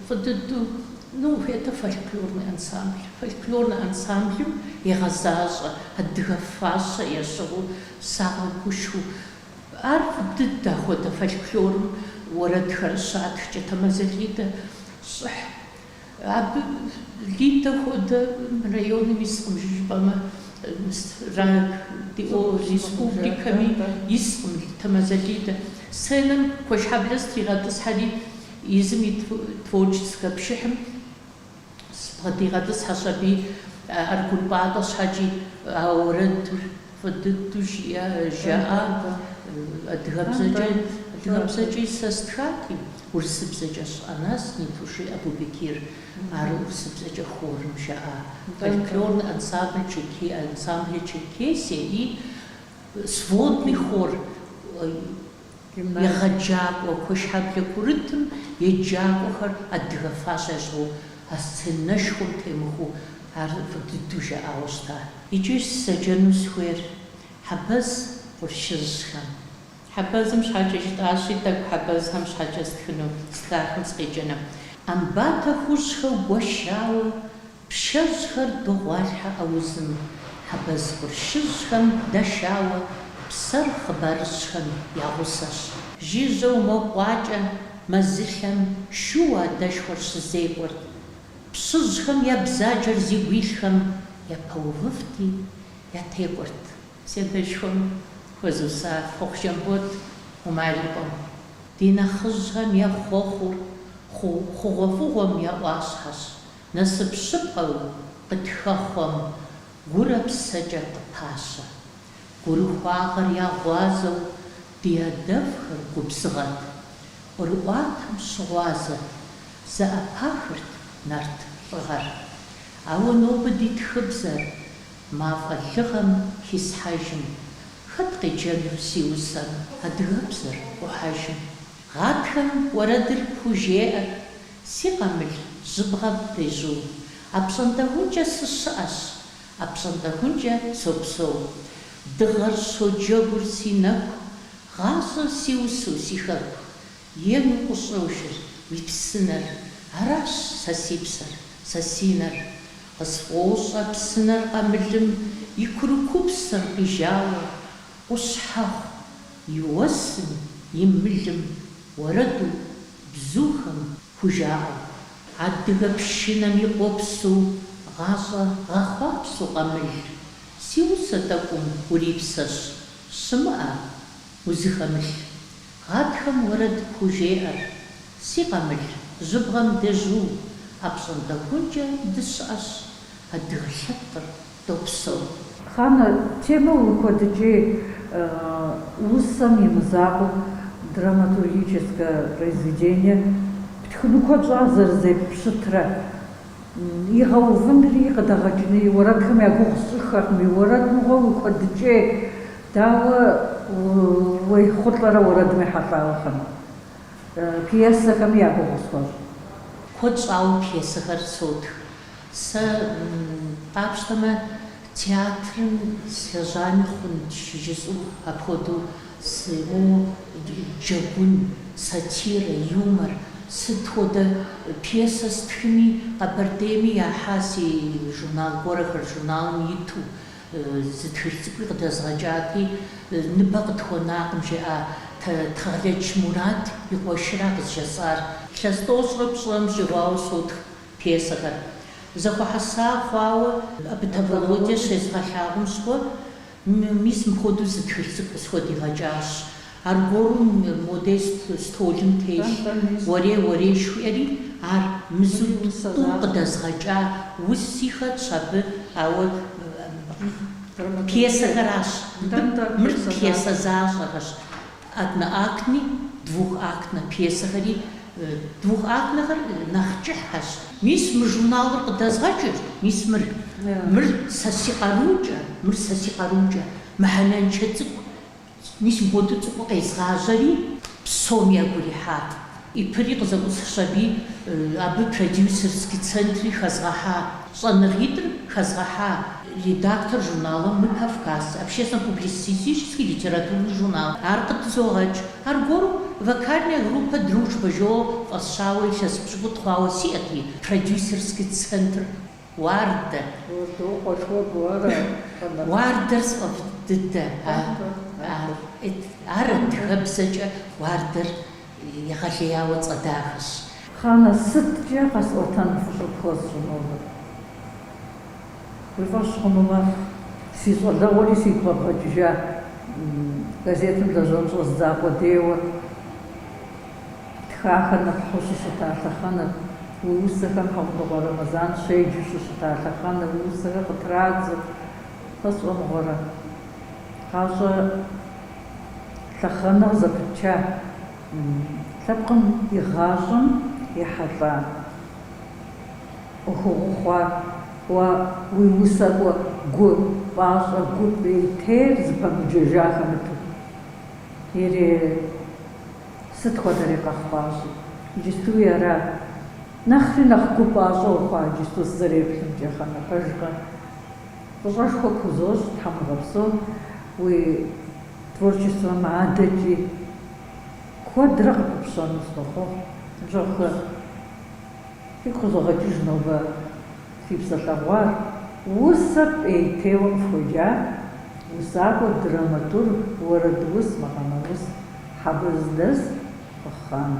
фӏы дыдэу, ну, это фольклорный ансамбль. Фольклорный ансамблым егъэзащӏэ адыгэ фащэ ящыгъыу, сагъэгушхуэу. Ар фӏы дыдэ, ахуэдэ фольклорым уэрэдхэр щатхкӏэ, Тэмэзэ Лидэ щӏыхь. Абы Лидэ хуэдэ районым искъым, жыжыпӏэмэ радио республикэми искъым Тэмэзэ Лидэ. Сценэм Куэшхьэблэ стригъэтӏысхьэри, езым и творческэ пшыхьым сыбгъэдигъэтӏысхьэщ аби Аргун Пӏатӏэ щхьэкӏи, а уэрэдыр фӏы дыдэу жиӏэ, жаӏа адыгэбзэкӏэ. Адыгэбзэкӏи сэ стхати. Урысыбзэкӏэ Ты о нас не тужи, Абубекир, ар урысыбзэкӏэ хорым жаӏа фольклорный ансамбль Черке, ансамбль Черкесия и сводный хор егъэджакӏуэ Куэшхьэблэ курытым еджакӏуэхэр адыгэ фащэ ящыгъыу а сценэшхуэм темыхуэу ар фӏы дыдэу жаӏауэ щыта. Иджы сызэджэну схуейр Хьэбэз къуршыжьхэм, Хьэбэзым щхьэкӏэ жытӏащи, тӏэкӏу хьэбэзхэм щхьэкӏэ стхыну стхахэм сыкъеджэну. Ӏэмбатэ хужьхэу гуэшауэ, пшэжьхэр догъуалъхьэ аузым, хьэбэз къуршыжьхэм дэшауэ, псэр хъыбарыжьхэм я гъусэщ. Жыжьэу мо къуакӏэ мэзылъэм шууэ адэшхуэр щызекӏуэрт, пщыжьхэм я бзаджэр зигу илъхэм япэувыфти, ятекӏуэрт. Си адэшхуэм хуэзуса Хъуэхъу Жамбот Умар и къуэм. Ди нэхъыжьхэм я хъуэхъур хъу хъугъуэфӏыгъуэм я ӏуащхьэщ, насып щыпкъэу къытхэхъуэм гурэ псэкӏэ къыпащэ. Гурыхуагъэр я гъуазэу ди адэфӏхэр губзыгъэт, ӏурыӏуатэм щыгъуазэу, зэӏэпахырт нарт лӏыгъэр. Ауэ нобэ ди тхыбзэр Мафӏэ лыгъэм хисхьэжым, хэт къеджэну си усэм адыгэбзэр къухьэжым. Гъатхэм уэрэдыр пхужеӏэр, си къамыл жьыбгъэм дежьуу. Апщӏонтӏэхункӏэ сыщыӏэщ, апщӏонтӏэхункӏэ сопсэу. Дыгъэр щоджэгур си нэку, гъащӏэр си усэу, си хэку. Ену къыщӏожыр уи псынэр, аращ сэ си псэр, сэ си нэр. Къысфӏощӏэ псынэр къамылым и курыкупсэм къижауэ, Къущхьэхъу и уэсым, и мылым, уэрэду, бзухэм, хужаӏэу. Адыгэ пшынэм и къуэпсу гъащӏэ гъэхъуапсэу къамыл, Си усэ тӏэкӏум урипсэщ, щымыӏэ, узыхэмылъ. Гъатхэм уэрэд пхужеӏэр, си къамыл, жьыбгъэм дежьу, апщӏондэхункӏэ дыщыӏэщ, адыгэ лъэпкъыр допсэу. Хъанэ, темэ уикуэдыкӏей усэм и мызакъуэу драматургическое произведение птхыну куэд щӏа зэрызеппщытрэ? игъэувынри къыдэгъэкӏыни уэрэдхэм я гугъу сщӏыххэркъыми, уэрэд мыгъуэ уикуэдыкӏей, дауэ уехъулӏэрэ уэрэдым ехьэлӏауэ тхыну? Пьесэхэми я гугъу схуэщӏ. Куэд щӏауэ пьесэхэр сотх. Сэ, къапщтэмэ, театрым слэжьами хъунщ жысӏэу апхуэдэу Сыу джэгун, сатирэ, юмор, сыт хуэдэ пьесэ стхыми, Къэбэрдейми яхьа си журнал гуэрхэр журналым иту, зы тхылъ цӏыкӏуи къыдэзгъэкӏати, ныбэ къытхуэнакъым, жиӏа Тхьэгъэлэдж Мурат и къуэшра къызжезыӏар. Лъэс тӏощӏрэ пщӏрэм щӏигъуауэ сотх пьесэхэр. Зэхуэхьэса хъуауэ Абытӏэ Володя щезгъэлъагъум щыгъуэ, Мис мыпхуэдэу зы тхылъ цӏыкӏу къысхуэдигъэкӏащ. Аргуэру модэ столым телъ. Уэрей, уэрей, жыхуиӏэри, ар мызу тӏу къыдэзгъэкӏа уси хэтщ абы, ауэ пьесэхэращ. Мыр пьесэ защӏэхэщ. Одноактни, двухактнэ пьесэхэри, двухактнэхэр нэхъ кӏыхьхэщ. Мис мы журналыр къыдэзгъэкӏырт, мис мыр, мыр сэ си къарукӏэ, мыр сэ си къарукӏэ, мыхьэнэншэ цӏыкӏу, мис мыхуэдэу цӏыкӏуу къезгъажьэри, псоми ягу ирихьат. ИП-ри къызэӏусхщ аби абы продюсерский центри хэзгъэхьа, щӏэныгъитӏыр хэзгъэхьа редактор журналым Мы Кавказ, общественно-публицистический литературный журнал, ар къыдызогъэкӏ. Аргуэру вокальная группэ Дружба жоуэ фӏэсщауэ илъэс пщыкӏутӏ хъуауэ сиӏэти, продюсерский центр Уардэ. Уардэр сфӏэфӏ дыдэ. Ар адыгэбзэкӏэ Уардэр. Егъэлеяуэ цӏэ дахэщ. Хъанэ сыткӏэ къэсӏуэтэн фӏыщӏэ пхуэсщӏынур? Уи фӏэщ хъунумэ, си щӏалэгъуэри сигу къэбгъэкӏыжа газетым лэжьэн щӏэздза къудейуэ тхахэр нэпхьу щыщыта лъэхъэнэ уи усэхэм Хьэхъундыкъуэ Рэмэзан щеджэу щыщыта лъэхъэнэ уи усэхэр къытрадзэу сэ сщӏэ мыгъуэрэ? Гъащӏэ. лъэхъэнэ къызэпытча лъэпкъым и гъащӏэм ехьэлӏа ӏуэхугъуэ хъуар, уэ уи усакӏуэ гу пӏащӏэ, гу пӏейтейр зыпэмыджэжа хэмыту. Ири сыт хуэдэри къэхъуащи, иджыстуи ара? Нэхъри нэхъ гу пӏащӏэ ухъуа иджысту сызэреплъымкӏэ, Хъанэ, пэжкъэ? Фӏыщӏэшхуэ пхузощӏ, Тхьэм уигъэпсэу, уи творчествэм адэкӏи куэдрэ къыпыпщэну сынохъуэхъу. Ныбжьэгъухэ, фигу къызогъэкӏыж нобэ ди псэлъэгъуар, усэ пӏейтейуэ къыфхуеджар, усакӏуэ драматург, уэрэдус, макъамэус, Хьэбэз дэс Къыхъ Хъанэ.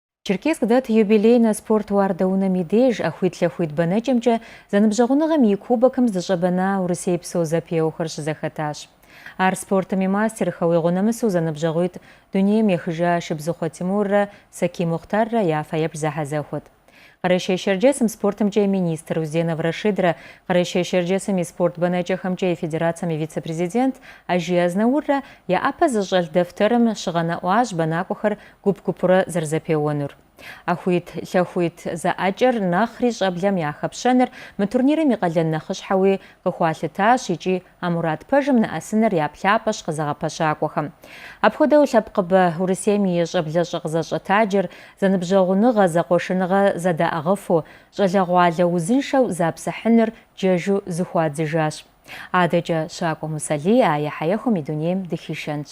Черкесск дэт юбилейнэ спорт уардэунэм и деж ӏэхуитлъэхуит бэнэкӏэмкӏэ зэныбжьэгъуныгъэм и Кубокым здыщӏэбэна урысейпсо зэпеуэхэр щызэхэтащ. Ар спортым и мастерхэу игъуэ нэмысу зэныбжьэгъуитӏ дунейм ехыжа Шыбзыхъуэ Тимуррэ Сакий Мухътаррэ я фэеплъ зэхьэзэхуэт. Къэрэшей-Щэрджэсым спортымкӏэ и министр Узденов Рашидрэ Къэрэшей-Щэрджэсым и спорт бэнэкӏэхэмкӏэ и федерацэм и вице-президент Ажий Азнауррэ я ӏэпэ зыщӏэлъ дэфтэрым щыгъэнэӏуащ бэнакӏуэхэр гуп-гупурэ зэрызэпеуэнур. Ӏэхуитлъэхуит зэӏэкӏэр нэхъри щӏэблэм яхэпщэныр мы турнирым и къалэн нэхъыщхьэуи къыхуалъытащ икӏи а мурад пэжым нэӏэсыныр я плъапӏэщ къызэгъэпэщакӏуэхэм. Апхуэдэу лъэпкъыбэ Урысейм и щӏэблэщӏэ къызэщӏэтаджэр зэныбжьэгъуныгъэ, зэкъуэшыныгъэ зэдаӏыгъыфу, щӏалэгъуалэ узыншэу запсыхьыныр джэжу зыхуадзыжащ. Адэкӏэ Щакӏуэ Мусэлий а ехьэехуэм и дунейм дыхишэнщ.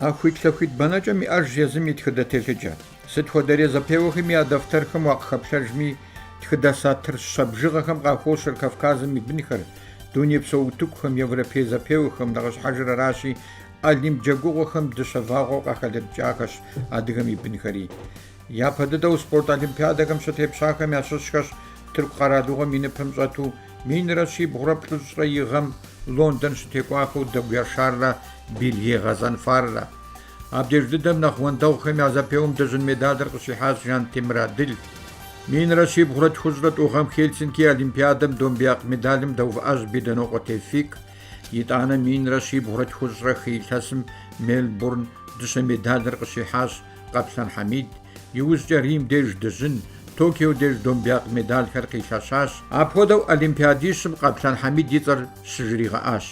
ӏэхуитлъэхуит бэнэкӏэм иӏэж езым и тхыдэ телъыджэ. Сыт хуэдэрей зэпеуэхэми я дэфтэрхэм уакъыхэплъэжми, тхыдэ сатыр щэ бжыгъэхэм къахощэр Кавказым и бынхэр, дунейпсо утыкухэм, европей зэпеуэхэм, нэхъыщхьэжыр аращи, Олимп джэгугъуэхэм дыщэ вагъуэу къахэлыдыкӏахэщ адыгэм и бынхэри. Япэ дыдэу спорт олимпиадэхэм щытепщахэм ящыщхэщ Тырку къэралыгъуэм и ныпым щӏэту Минрэ щибгъурэ плӏыщӏрэ и гъэм Лондон щытекӏуахэу Дэгу Яшаррэ Билье Гъэзанфаррэ. Абдеж дыдэм нэхъ уэндэгъухэм я зэпеуэм дыжьын медалыр къыщихьащ Жантемыр Адыл. Минрэ щибгъурэ тхущӏрэ тӏу гъэм Хельсинки Олимпиадэм домбеякъ медалым дэувыӏащ Беданокъуэ Тевфик. Итӏанэ минрэ щибгъурэ тхущӏрэ хы илъэсым Мельбурн дыщэ медалыр къыщихьащ Къэплъэн Хьэмид, иужькӏэ Рим деж дыжьын, Токио деж домбеякъ медалхэр къилъэщащ. Апхуэдэу олимпиадищым Къэплъэн Хьэмид и цӏэр щыжригъэӏащ.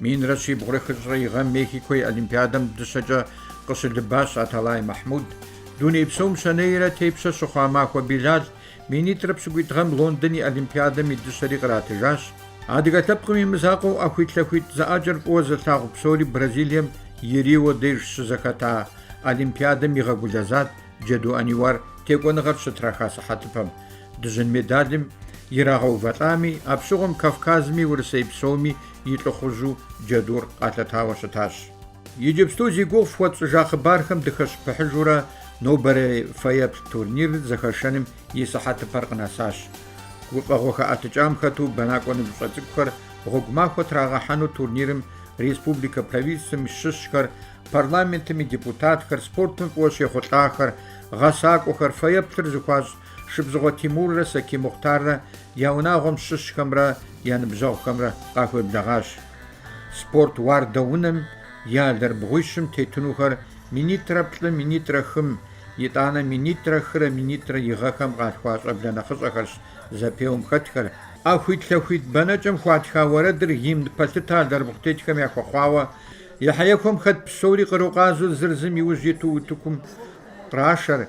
Минрэ щибгъурэ хыщӏрэ и гъэм Мехико и олимпиадэм дыщэкӏэ къыщылыбащ Аталай Махьмуд, дуней псом щэнейрэ тепщэ щыхъуа Махуэ Билал, Минитӏрэ пщыкӏуитӏ гъэм Лондон и Олимпиадэм и дыщэри къратыжащ. Адыгэ лъэпкъым и мызакъуэу ӏэхуитлъэхуит зэӏэкӏэр фӏыуэ зылъагъу псори Бразилием и Рио деж щызэхэта Олимпиадэм игъэгулэзат Джэду Аниуар текӏуэныгъэр щытраха сыхьэтыпэм. Дыжьын медалым ирагъэувэлӏами, апщыгъуэм Кавказми Урысей псоми и лӏыхъужьу Джэдур къалъэтауэ щытащ. Иджыпсту зи гугъу фхуэтщӏыжа хъыбархэм дыхэщыпыхьыжурэ, Нобэрей фэеплъ турнир зэхэшэным и сыхьэтыпэр къынэсащ. Гуфӏэгъуэ хэӏэтыкӏам хэту бэнакӏуэ ныбжьыщӏэ цӏыкӏухэр гъуэгу махуэ трагъэхьэну турнирым республикэ правительствэм и щыщхэр, парламентым и депутатхэр, спортым фӏыуэ щехъулӏахэр, гъэсакӏуэхэр, фэеплъыр зыхуащӏ Шыбзыхъуэ Тимуррэ Сакий Мухътаррэ я унагъуэм щыщхэмрэ я ныбжьэгъухэмрэ къахуеблэгъащ. Спорт уардэунэм И алэрыбгъуищым тетынухэр минитӏрэ плӏы, минитӏрэ хым, итӏанэ минитӏрэ хырэ минитӏрэ и гъэхэм къалъхуа щӏэблэ нэхъыщӏэхэрщ зэпеуэм хэтхэр. ӏэхуитлъэхуит бэнэкӏэм хуатха уэрэдыр гимн пэлъытэ алэрыбгъу тетхэм яхуэхъуауэ, ехьэехуэм хэт псори кърукъазу зыр зым и ужь иту утыкум кърашэр,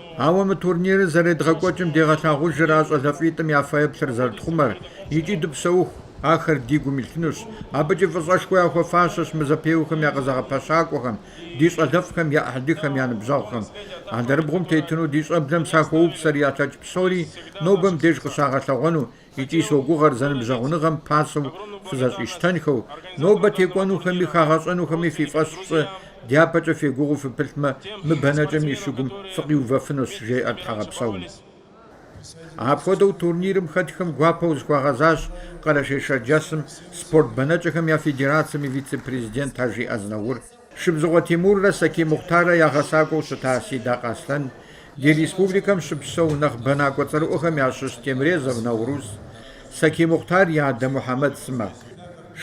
Ауэ мы турнирыр зэредгъэкӏуэкӏым дегъэлъагъужыр а щӏалэфӏитӏым я фэеплъыр зэрытхъумэр икӏи дыпсэуху, ахэр ди гум илъынущ. Абыкӏи фӏыщӏэшхуэ яхуэфащэщ мы зэпеуэхэм я къызэгъэпэщакӏуэхэм, ди щӏалэфӏхэм я ӏыхьлыхэм я ныбжьэгъухэм. Алэрыбгъум тетыну ди щӏэблэм сахуоупсэр ялъэкӏ псори нобэ мыбдеж къыщагъэлъэгъуэну, Икӏи согугъэр зэныбжьэгъуныгъэм пасэу фызэщӏищтэнхэу, нобэ текӏуэнухэми хагъэщӏэнухэми фи фӏэщ фщӏы, дяпэкӏэ фегугъуу фыпылъмэ, мы бэнэкӏэм и щыгум фыкъиувэфынущ, жеӏэр Тхьэгъэпсэум. Апхуэдэу турнирым хэтхэм гуапэу зыхуагъэзащ Къэрэшей-Шэрджэсым спорт бэнэкӏэхэм я федерацэм и вице-президент Ажи Азнаур. Шыбзыхъуэ Тимуррэ Сакий Мухътаррэ я гъэсакӏуэу щыта Сидакъ Аслъэн, ди республикэм щыпсэу нэхъ бэнакӏуэ цӏэрыӏуэхэм ящыщ Темрезов Наурыз, Сакий Мухътар и адэ Мухьэмэд сымэ.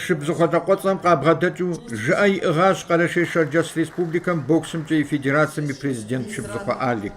Шыбзыхъуэ лӏакъуэцӏэм къабгъэдэкӏыу жыӏэ иӏыгъащ Къэрэшей-Шэрджэс Республикэм боксымкӏэ и федерацэм и президент Шыбзыхъуэ Алик.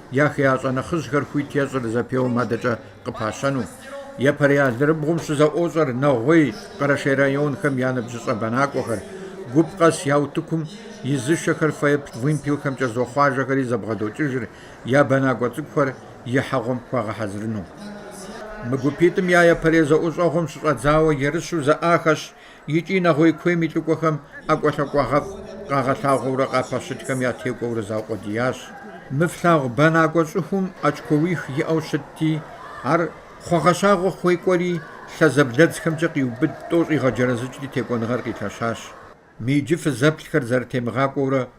я хеящӏэ нэхъыжьхэр хуит ещӏыр зэпеуэм адэкӏэ къыпащэну, Епэрей алэрыбгъум щызэӏуощӏэр Нэгъуей, Къэрэшей районхэм я ныбжьыщӏэ бэнакӏуэхэр, гуп къэс я утыкум изышэхэр фэеплъ вымпелхэмкӏэ зохъуажэхэри зэбгъэдокӏыжыр я бэнакӏуэ цӏыкӏухэр ихьэгъуэм хуагъэхьэзырыну. Мы гупитӏым я епэрей зэӏущӏэгъуэм щыщӏэдзауэ ерыщу зэӏахэщ икӏи нэгъуей куейм и лӏыкӏуэхэм ӏэкӏуэлъакӏуагъэфӏ къагъэлъагъуэурэ къапэщытхэм ятекӏуэурэ заукъуэдиящ. Мы флъагъу бэнакӏуэ щӏыхум очкоуих иӏэу щытти, ар хъуагъэщагъэ хуекӏуэри лъэзэблэдзхэмкӏэ къиубыд тӏо щӏигъэджэрэзыкӏри текӏуэныгъэр къилъэщащ. Мы иджы фызэплъхэр зэрытемыгъакӏуэурэ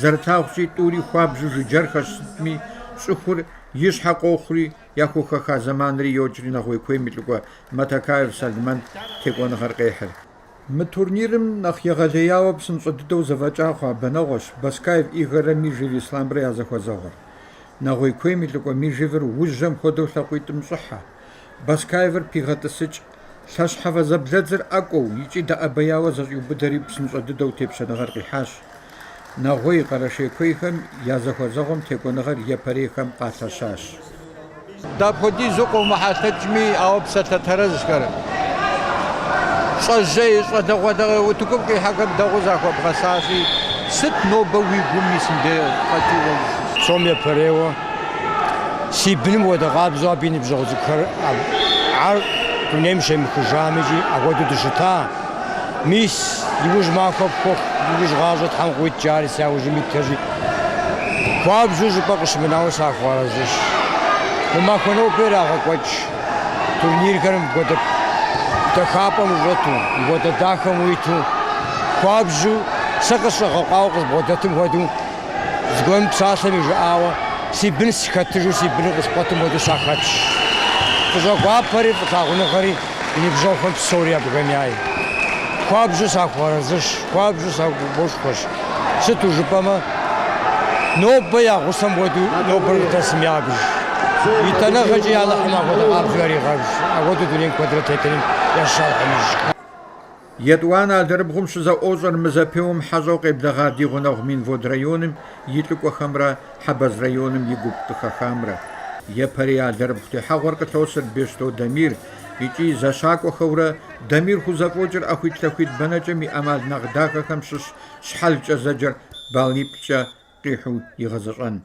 Зэрытлъагъущи, тӏури хуабжьу жыджэрхэщ, сытми, щӏыхур и щхьэ къохъури, яхухэха зэманри йокӏри нэгъуей куейм и лӏыкӏуэ Матакаев Салмэн текӏуэныгъэр къехьыр. Мы турнирым нэхъ егъэлеяуэ псынщӏэ дыдэу зэфӏэкӏа хъуа бэнэгъуэщ Баскаев Игоррэ Мижев Ислъамрэ я зэхуэзэгъуэр. Нэгъуей куейм и лӏыкӏуэ Мижевыр ужьэм хуэдэу лъакъуитӏым щӏыхьэ. Баскаевыр пигъэтӏысыкӏ. Лъэщхьэфэ зэблэдзыр ӏэкӏуэу икӏи дэӏэбеяуэ зэщӏиубыдэри псынщӏэ дыдэу тепщэныгъэр къихьащ. Нэгъуей, Къэрэшей куейхэм я зэхуэзэгъуэм текӏуэныгъэр епэрейхэм къалъэщащ. Дапхуэдизу къыумыхьэлъэкӏми, ауэ псалъэ тэрэзхэр, щӏэжьей, щӏалэгъуалэ утыкум къихьэхэм дэгъуэу захуэбгъэзащи, сыт нобэ уи гум исым дей къэкӏыу уэ ущысыр? Псом епэрейуэ Си быным хуэдэ къабзэу абы и ныбжьэгъу цӏыкӏухэр ар дунейм щемыхыжам икӏи апхуэдэу дыщыта. Мис, иужь махуэ пхуэхъу, иужь гъащӏэ Тхьэм къыуит жари си яужьым итхэщи, хуабжьу жыпӏэ къыщымынауэ сахуэарэзыщ. Мы махуэ нобэ ирагъэкӏуэкӏ турнирхэр мыпхуэдэ дахапӏэм ущӏэту, мыпхуэдэ дахэм уиту, хуабжьу сэ къысщӏэгъэкъуауэ къызбгъуэдэтым хуэдэу, Зыгуэрым псалъэм и жыӏауэ, Си бын схэтыжу си быныр къыскъуэтым хуэдэу сахэтщ. Фӏыщӏэ гуапэри фӏылъагъуныгъэри и ныбжьэгъухэм псори абыхэм яй. Хуабжьу сахуэарэзыщ, хуабжьу сагуфӏошхуэщ. Сыту жыпӏэмэ, нобэ я гъусэм хуэдэу нобэр къыдэсым ябж. Итӏанэгъэкӏи Алыхьым апхуэдэ къабзэу яригъэбж, апхуэдэу дунейм куэдрэ тетыным ящыщ Алыхьым ищӏ. Етӏуанэ алэрыбгъум щызэӏуощӏэр мы зэпеуэм хьэщӏэу къеблэгъа ди гъунэгъу Минвод районым и лӏыкӏуэхэмрэ Хьэбэз районым и гуп къыхэхамрэ. Епэрей алэрыбгъу техьэгъуэр къылъосыр Бещто Дамир икӏи зэщакӏуэхэурэ Дамир хузэфӏокӏыр ӏэхуитлъэхуит бэнэкӏэм и ӏэмал нэхъ дахэхэм щыщ щхьэлкӏэ зэджэр баллиплӏкӏэ къихьу игъэзэщӏэн.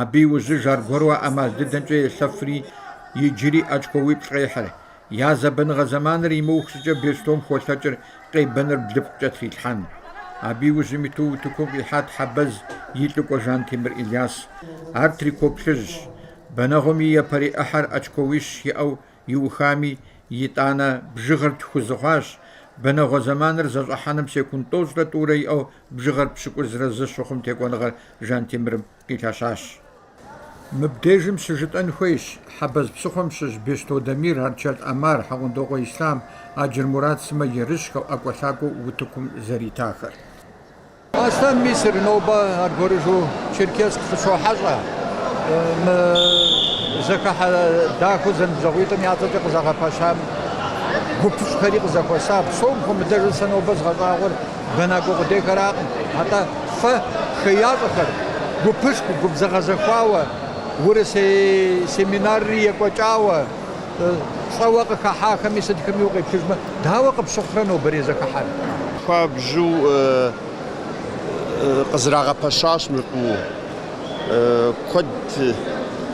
Абы иужьыж аргуэру а ӏэмал дыдэмкӏэ елъэфри, иджыри очкоуиплӏ къехьыр. Я зэбэныгъэ зэманыр имыух щӏыкӏэ Бещтом холъэкӏыр къебэныр блыпкъкӏэ трилъхьэн. Абы иужьым иту утыкум къихьат Хьэбэз и лӏыкӏуэ Жантемыр Ильяс. Ар трико плъыжьщ. Бэнэгъуэм и япэрей ӏыхьэр очкоуищ иӏэу иухами, итӏанэ бжыгъэр тху зы хъуащ, бэнэгъуэ зэманыр зэщӏыхьэным секунд тӏощӏрэ тӏурэ иӏэу Бжыгъэр пщыкӏузрэ зы щыхъум текӏуэныгъэр Жантемырым къилъэщащ. Мыбдежым щыжытӏэн хуейщ, Хьэбэз псыхъуэм щыщ Бещто Дамир, Арчэлъ ӏэмар, Хьэгъундокъуэ Ислъам, Аджыр Мурат сымэ ерыщхэу, ӏэкӏуэлъакӏуэу утыкум зэритахэр. Аслъэн Мисыр нобэ аргуэрыжу Черкесск къыщохьэщӏэ. Мы зэхыхьэ дахэу зэныбжьэгъуитӏым я цӏэкӏэ къызэгъэпэщам гупыщӏхэри къызэхуэса. Псом хуэмыдэжу сэ нобэ згъэщӏагъуэр бэнакӏуэ къудейхэракъым, атӏэ фэ хеящӏэхэр гупышху губзыгъэзэхуауэ, урысей семинарри екӏуэкӏауэ щӏэуэ къыхахьахэми сытхэми укъеплъыжмэ, дауэ къыпщыхъурэ нобэрей зэхыхьэр? Хуабжьу къызэрагъэпэщащ мыр фӏыуэ. Куэд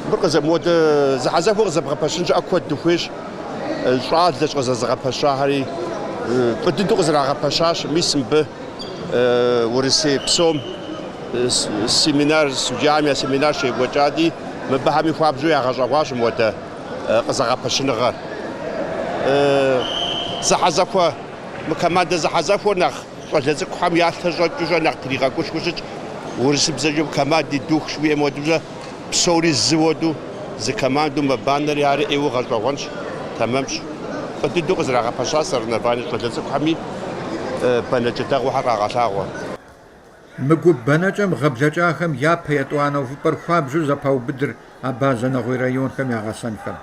мыр къызэ, мыуэдэ зэхьэзэхуэ къызэбгъэпэщын щхьэкӏэ куэд дыхуейщ. щӏалэщ къызэзыгъэпэщахэри, фӏы дыдэу къызэрагъэпэщащ. Мис мыбы Урысей псом семинар, судьям я семинар щекӏуэкӏати, мыбыхэми хуабжьу ягъэщӏэгъуащ мыуэдэ къызэгъэпэщыныгъэр. Зэхьэзэхуэ, мы командэ зэхьэзэхуэр нэхъ щӏалэ цӏыкӏухэм ялъэ щӏэкӏыурэ нэхъ тригъэгушхуэу щытщ. Урысыбзэкӏэ командный дух жыхуаӏэм хуэдэурэ. Псори зы уэду, зы командэу мэбанэри ари ӏейуэ гъэщӏэгъуэнщ, тэмэмщ. Фӏы дыдэу къызэрагъэпэщащ соревнование щӏалэ цӏыкӏухэми бэнэкӏэ дэгъуэхэр къагъэлъагъуэ. Мы гуп бэнэкӏэм гъэ блэкӏахэм япэ етӏуанэ увыпӏэр хуабжьу зэпаубыдыр Абазэ нэгъуей районхэм я гъэсэнхэм.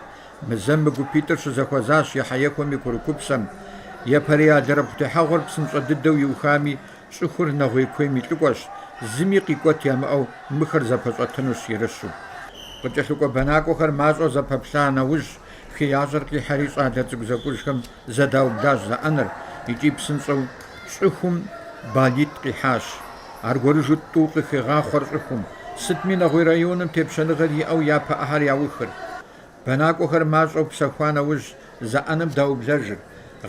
Мы зэм мы гупитӏыр щызэхуэзащ ехьэехуэм и курыкупсэм. Япэрей алэрыбгъу техьэгъуэр псынщӏэ дыдэу иухами, Щӏыхур нэгъуей куейм и лӏыкӏуэщ, зыми къикӏуэт ямыӏэу мыхэр зэпэщӏэтынущ ерыщу. Къыкӏэлъыкӏуэ бэнакӏуэхэр мащӏэу зэпэплъа нэужь, хеящӏэр къихьэри щӏалэ цӏыкӏу зэкӏужхэм зэдаублащ зэӏэныр икӏи псынщӏэу щӏыхум балитӏ къихьащ. Аргуэрыжу тӏу къыхегъахъуэр щӏыхум, сытми нэгъуей районым тепщэныгъэр иӏэу япэ ӏыхьэр яухыр. Бэнакӏуэхэр мащӏэу псэхуа нэужь зэӏэным даублэжыр,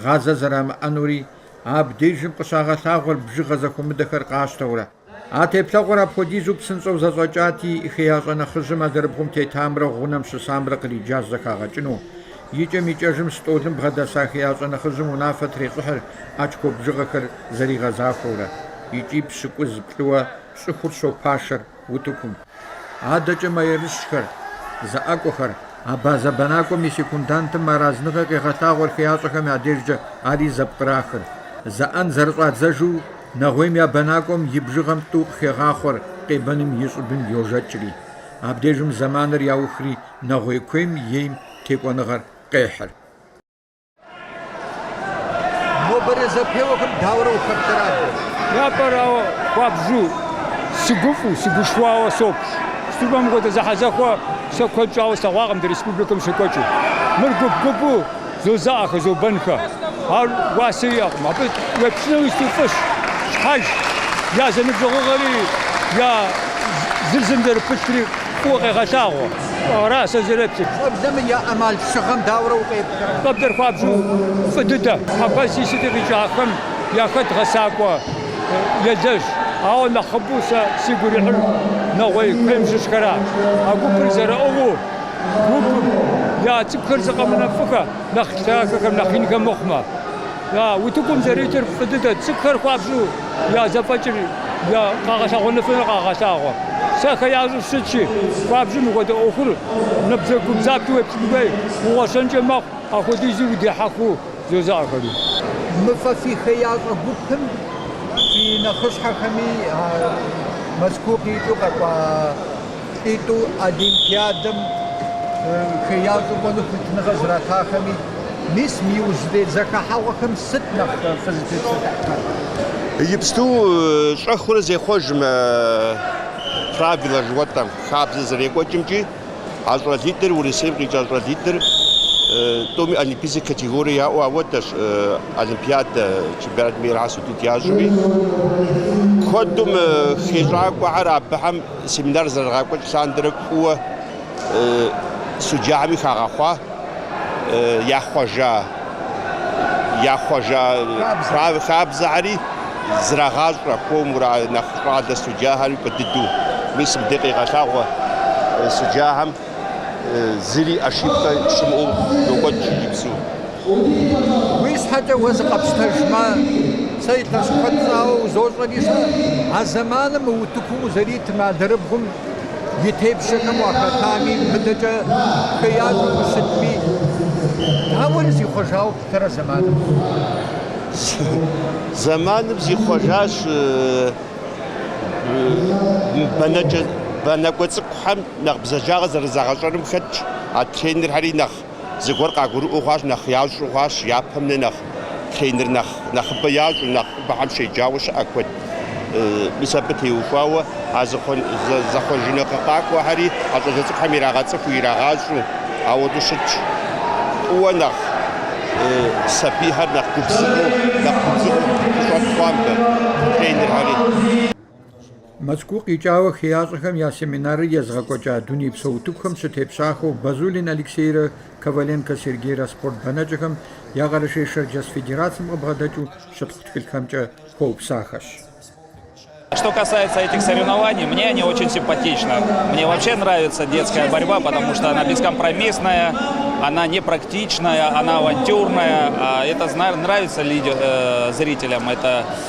гъазэ зэрамыӏэнури, абдежым къыщагъэлъагъуэр бжыгъэ зэхуэмыдэхэр къащтэурэ. А теплъэгъуэр апхуэдизу псынщӏэу зэщӏэкӏати, хеящӏэ нэхъыжьым алэрыбгъум тетамрэ гъунэм щысамрэ къриджащ зэхагъэкӏыну. Икӏэм-икӏэжым стӏолым бгъэдэса хеящӏэ нэхъыжьым унафэ трещӏыхьыр очко бжыгъэхэр зэригъэзахуэурэ. Икӏи пщыкӏуз плӏыуэ щӏыхур щопашэр. утыкум. Адэкӏэ мэерыщхэр, зэӏэкӏуэхэр, абазэ бэнакӏуэм и секундантым мыарэзыныгъэ къегъэлъагъуэр хеящӏэхэм я дежкӏэ ари зэпкърахыр. Зэӏэн зэрыщӏадзэжу, нэгъуейм я бэнакӏуэм и бжыгъэм тӏу къыхегъахъуэр къебэным и щӏыбым йожэкӏри. Абдежым зэманыр яухри, нэгъуей куейм ейм текӏуэныгъэр къехьыр. Нобэрей зэпеуэхэм дауэрэ ухэплъэрэ? Япэрауэ, хуабжьу, сыгуфӏу, сыгушхуауэ соплъ. Сыту жыпӏэм мыпхуэдэ зэхьэзэхуэ сэ куэд щӏауэ слъэгъуакъым ди республикэм щекӏуэкӏыу. Мыр гуп-гупу зозаӏэхэ, зобэнхэ. Ар уасэ иӏэкъым. Абы уеплъынуи сыти фӏыщ, щхьэж. Я зэныбжьэгъугъэри, я зыр зым зэрыпылъри. Фӏыуэ къегъэлъагъуэ. Ара сэ сызэреплъыр. Щӏэблэм я ӏэмалшыгъэм дауэрэ укъеплърэ? Щӏэблэр хуабжьу фӏы дыдэ. Хьэбэзи сыти къикӏахэм яхэт гъэсакӏуэ елэжь. Ауэ нэхъыбэу сэ сигу ирихьыр нэгъуей куейм щыщхэращ. А гупыр зэрыӏыгъыу гупым я цӏыкӏухэр зы къэмынэу фӏыхэ, нэхъ лъагэхэм, нэхъ инхэм мыхъумэ. Утыкум зэритыр фӏы дыдэ, цӏыкӏухэр хуабжьу. я зэфӏэкӏыр я къагъэлъэгъуэныфыныр къагъэлъагъуэ. Сэ хеящӏэу сыщытщи, хуабжьу мыхуэдэ ӏуэхур набдзэгубдзаплъэу уеплъын хуей, угъуэщэнкӏэ мэхъу, апхуэдизу удехьэхыу зозаӏэхэри. Мы фэ фи хеящӏэ гупым фи нэхъыщхьэхэми Мэзкуу къикӏыу къэкӏуа Лӏитӏу Олимпиадэм хеящӏэу кӏуэну хуитыныгъэ зэратахэми, мис мы иужьрей зэхыхьэгъуэхэм сыт нэхъ фызытепсэлъыхьхэр? Иджыпсту щӏэхыурэ зехъуэж мы правилэ жыхуэтӏэм, хабзэ зэрекӏуэкӏымкӏи, а щӏалитӏыр, Урысейм къикӏа щӏалитӏыр, тӏуми олимпийскэ категорие яӏэу апхуэдэщ, олимпиадэ, чемпионат мира судить ящӏми, куэду мы хещӏакӏуэхэр абыхэм Семинар зэрырагъэкӏуэкӏ лъандэрэ фӏыуэ судьяхэми хагъэхъуа яхъуэжа яхъуэжа хабзэхэри зрагъащӏэ, хуэмурэ нэхъ щӏалэ судьяхэри куэд дыдэу. Мис мыбдеж къегъэлъагъуэ судьяхэм. зыри ошибкэ щымыӏэу йокӏуэкӏ иджыпсу. Уи щхьэкӏэ уэ зыкъэпщтэжмэ, сэ илъэс куэд щӏауэ узощӏэри щэ, а зэманым мы утыкум узэритым алэрыбгъум и тепщэхэм уахэтами, мыдэкӏэ хеящӏэу ущытми, дауэри зихъуэжауэ плъытэрэ зэманым? Зэманым зихъуэжащ бэнэкӏуэ цӏыкӏухэм Нэхъ бзаджагъэ зэрызагъэщӏэным хэтщ, а тренерхэри нэхъ зыгуэр къагурыӏуэу хъуащ, нэхъ ящӏу хъуащ, япэм нэ нэхъ тренер нэхъыбэ ящӏу, нэхъыбэхэм щеджауэ щыӏэ куэд. Мис абы теухуауэ а зэхъуэжыныгъэ къакӏуэхэри а щӏалэ цӏыкӏухэм ирагъэцӏыху, ирагъащӏу, ауэдэу щытщ. Фӏыуэ нэхъ сабийхэр нэхъ гупсысэу, нэхъ губзыгъэу къыщӏэт хъуамэ тренерхэри. Мэзкуу къикӏауэ хеящӏэхэм я семинарыр езыгъэкӏуэкӏа дунейпсо утыкухэм щытепщахэу Базулин Алексейрэ Коваленко Сергейрэ спорт бэнэкӏэхэм я Къэрэшей-Шэрджэс федерацием къыбгъэдэкӏыу щытхъу тхылъхэмкӏэ хуэупсахэщ. Что касается этих соревнований, мне они очень симпатичны. Мне вообще нравится детская борьба, потому что она бескомпромиссная, она непрактичная, она авантюрная. Это нравится зрителям.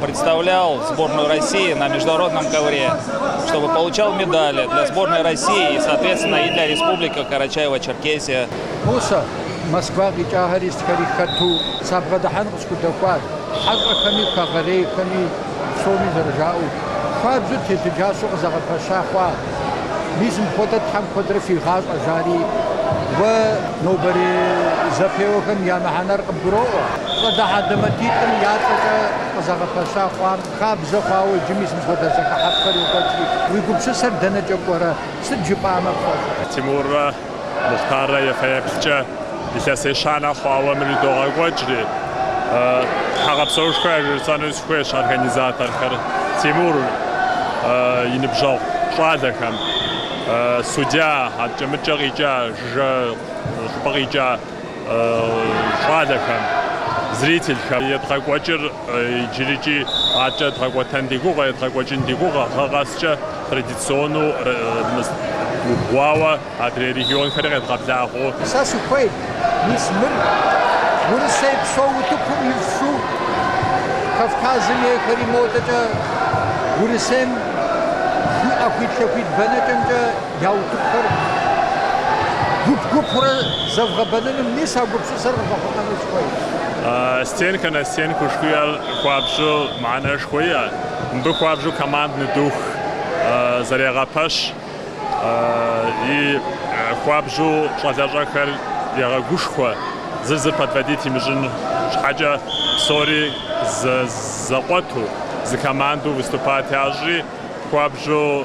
представлял сборную России на международном ковре, чтобы получал медали для сборной России и, соответственно, и для Республики Карачаево-Черкесия. Мусэ, Москва къикӏахэри сытхэри хэту сабгъэдыхьэн къысхудэхуат, хьэщӏэхэми, хэгъэрейхэми, псоми зэрыжаӏэу, хуабжьу телъыджащэу къызэгъэпэща хъуа? Мис мыпхуэдэ Тхьэм куэдрэ фигъащӏэ, жари, уэ нобэрей зэпеуэхэм я мыхьэнэр къыбгуроӏуэ. Щӏалэ хьэлэмэтитӏым я цӏэкӏэ къызэгъэпэща хъуам хабзэ хъуауэ иджы мис мыпхуэдэ зэхыхьэфӏхэр йокӏуэкӏри, уи гупсысэр дэнэкӏэ кӏуэрэ? Сыт жыпӏамэ пфӏэфӏ? Тимуррэ Мухътаррэ я фэеплъкӏэ илъэс ещанэ хъуауэ мыр идогъэкӏуэкӏри, тхьэгъэпсэушхуэ яжесӏэну сыхуейщ организаторхэр, Тимур и ныбжьэгъу щӏалэхэм, судья, адэкӏэ мыдэкӏэ къикӏа, жыжьэ щӏыпӏэ къикӏа. щӏалэхэм, зрительхэм едгъэкӏуэкӏыр иджырыкӏи адэкӏэ дгъэкӏуэтэн ди гугъэ, едгъэкӏуэкӏын ди гугъэ, гъэ къэскӏэ традиционэу убгъуауэ адрей регионхэри къедгъэблагъэу. Сэ сыхуейт, мис мыр Урысейпсо утыкум ифшу, Кавказым ейхэри модэкӏэ Урысейм и ӏэхуит-лъэхуит бэнэкӏэмкӏэ. Я утыкухэр гуп-гупурэ зэвгъэбэныным мис а гупсысэр къыфӏэхъумэну сыхуейщ. Стенкэ на стенку жыхуаӏэр хуабжьу мыхьэнэшхуэ иӏэ. Мыбы хуабжьу командный дух зэрегъэпэщ и хуабжьу щӏалэщӏэхэр егъэгушхуэ, зыр зыр подводить имыщӏын щхьэкӏэ псори зэкъуэту, зы командэу выступать ящӏри, хуабжьу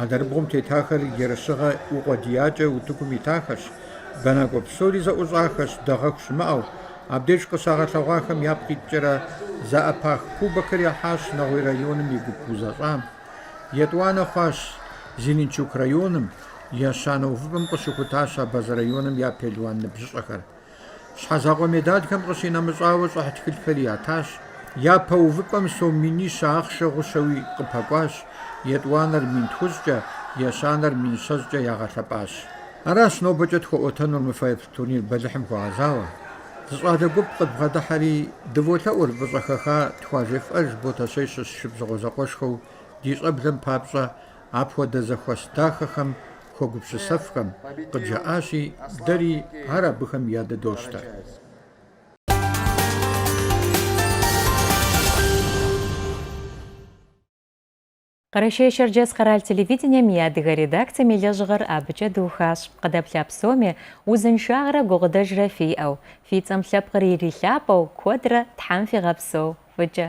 Алэрыбгъум тетахэр ерыщыгъэ укъуэдиякӏэ утыкум итахэщ, бэнакӏуэ псори зэӏущӏахэщ, дэгъэху щымыӏэу. Абдеж къыщагъэлъэгъуахэм япкъ иткӏэрэ зэӏэпах кубокыр яхьащ Нэгъуей районым и гуп узэщӏам. Етӏуанэ хъуащ Зеленчук районым, ещанэ увыпӏэм къыщыхутащ Абазэ районым я пелуан ныбжьыщӏэхэр. Щхьэзакъуэ медалхэм къыщинэмыщӏауэ щӏыхь тхылъхэри ятащ. Япэ увыпӏэм сом минищэ ахъшэ гъущэуи къыпэкӏуащ, етӏуанэр мин тхущӏкӏэ, ещанэр мин щэщӏкӏэ ягъэлъэпӏащ. Аращ нобэкӏэ тхуэӏуэтэнур мы фэеплъ турнир бэлыхьым хуэгъэзауэ. Зы щӏалэ гуп къыдбгъэдыхьэри, дыволъэӏур фӏыщӏэ хэха тхуажефӏэж Ботэщей щыщ Шыбзыхъуэ зэкъуэшхэу ди щӏэблэм папщӏэ Апхуэдэ зэхуэс дахэхэм хуэгупсысэфхэм къыджаӏащи, дэри ар абыхэм ядыдощтэ. Къэрэшей-Шэрджэс къэрал телевидением и адыгэ редакцием и лэжьыгъэр абыкӏэ дыухащ. Къыдэплъа псоми узыншагърэ гукъыдэжрэ фиӏэу, фи цӏэм лъэпкъыр ирилъапӏэу, куэдрэ Тхьэм фигъэпсэу, фӏыкӏэ.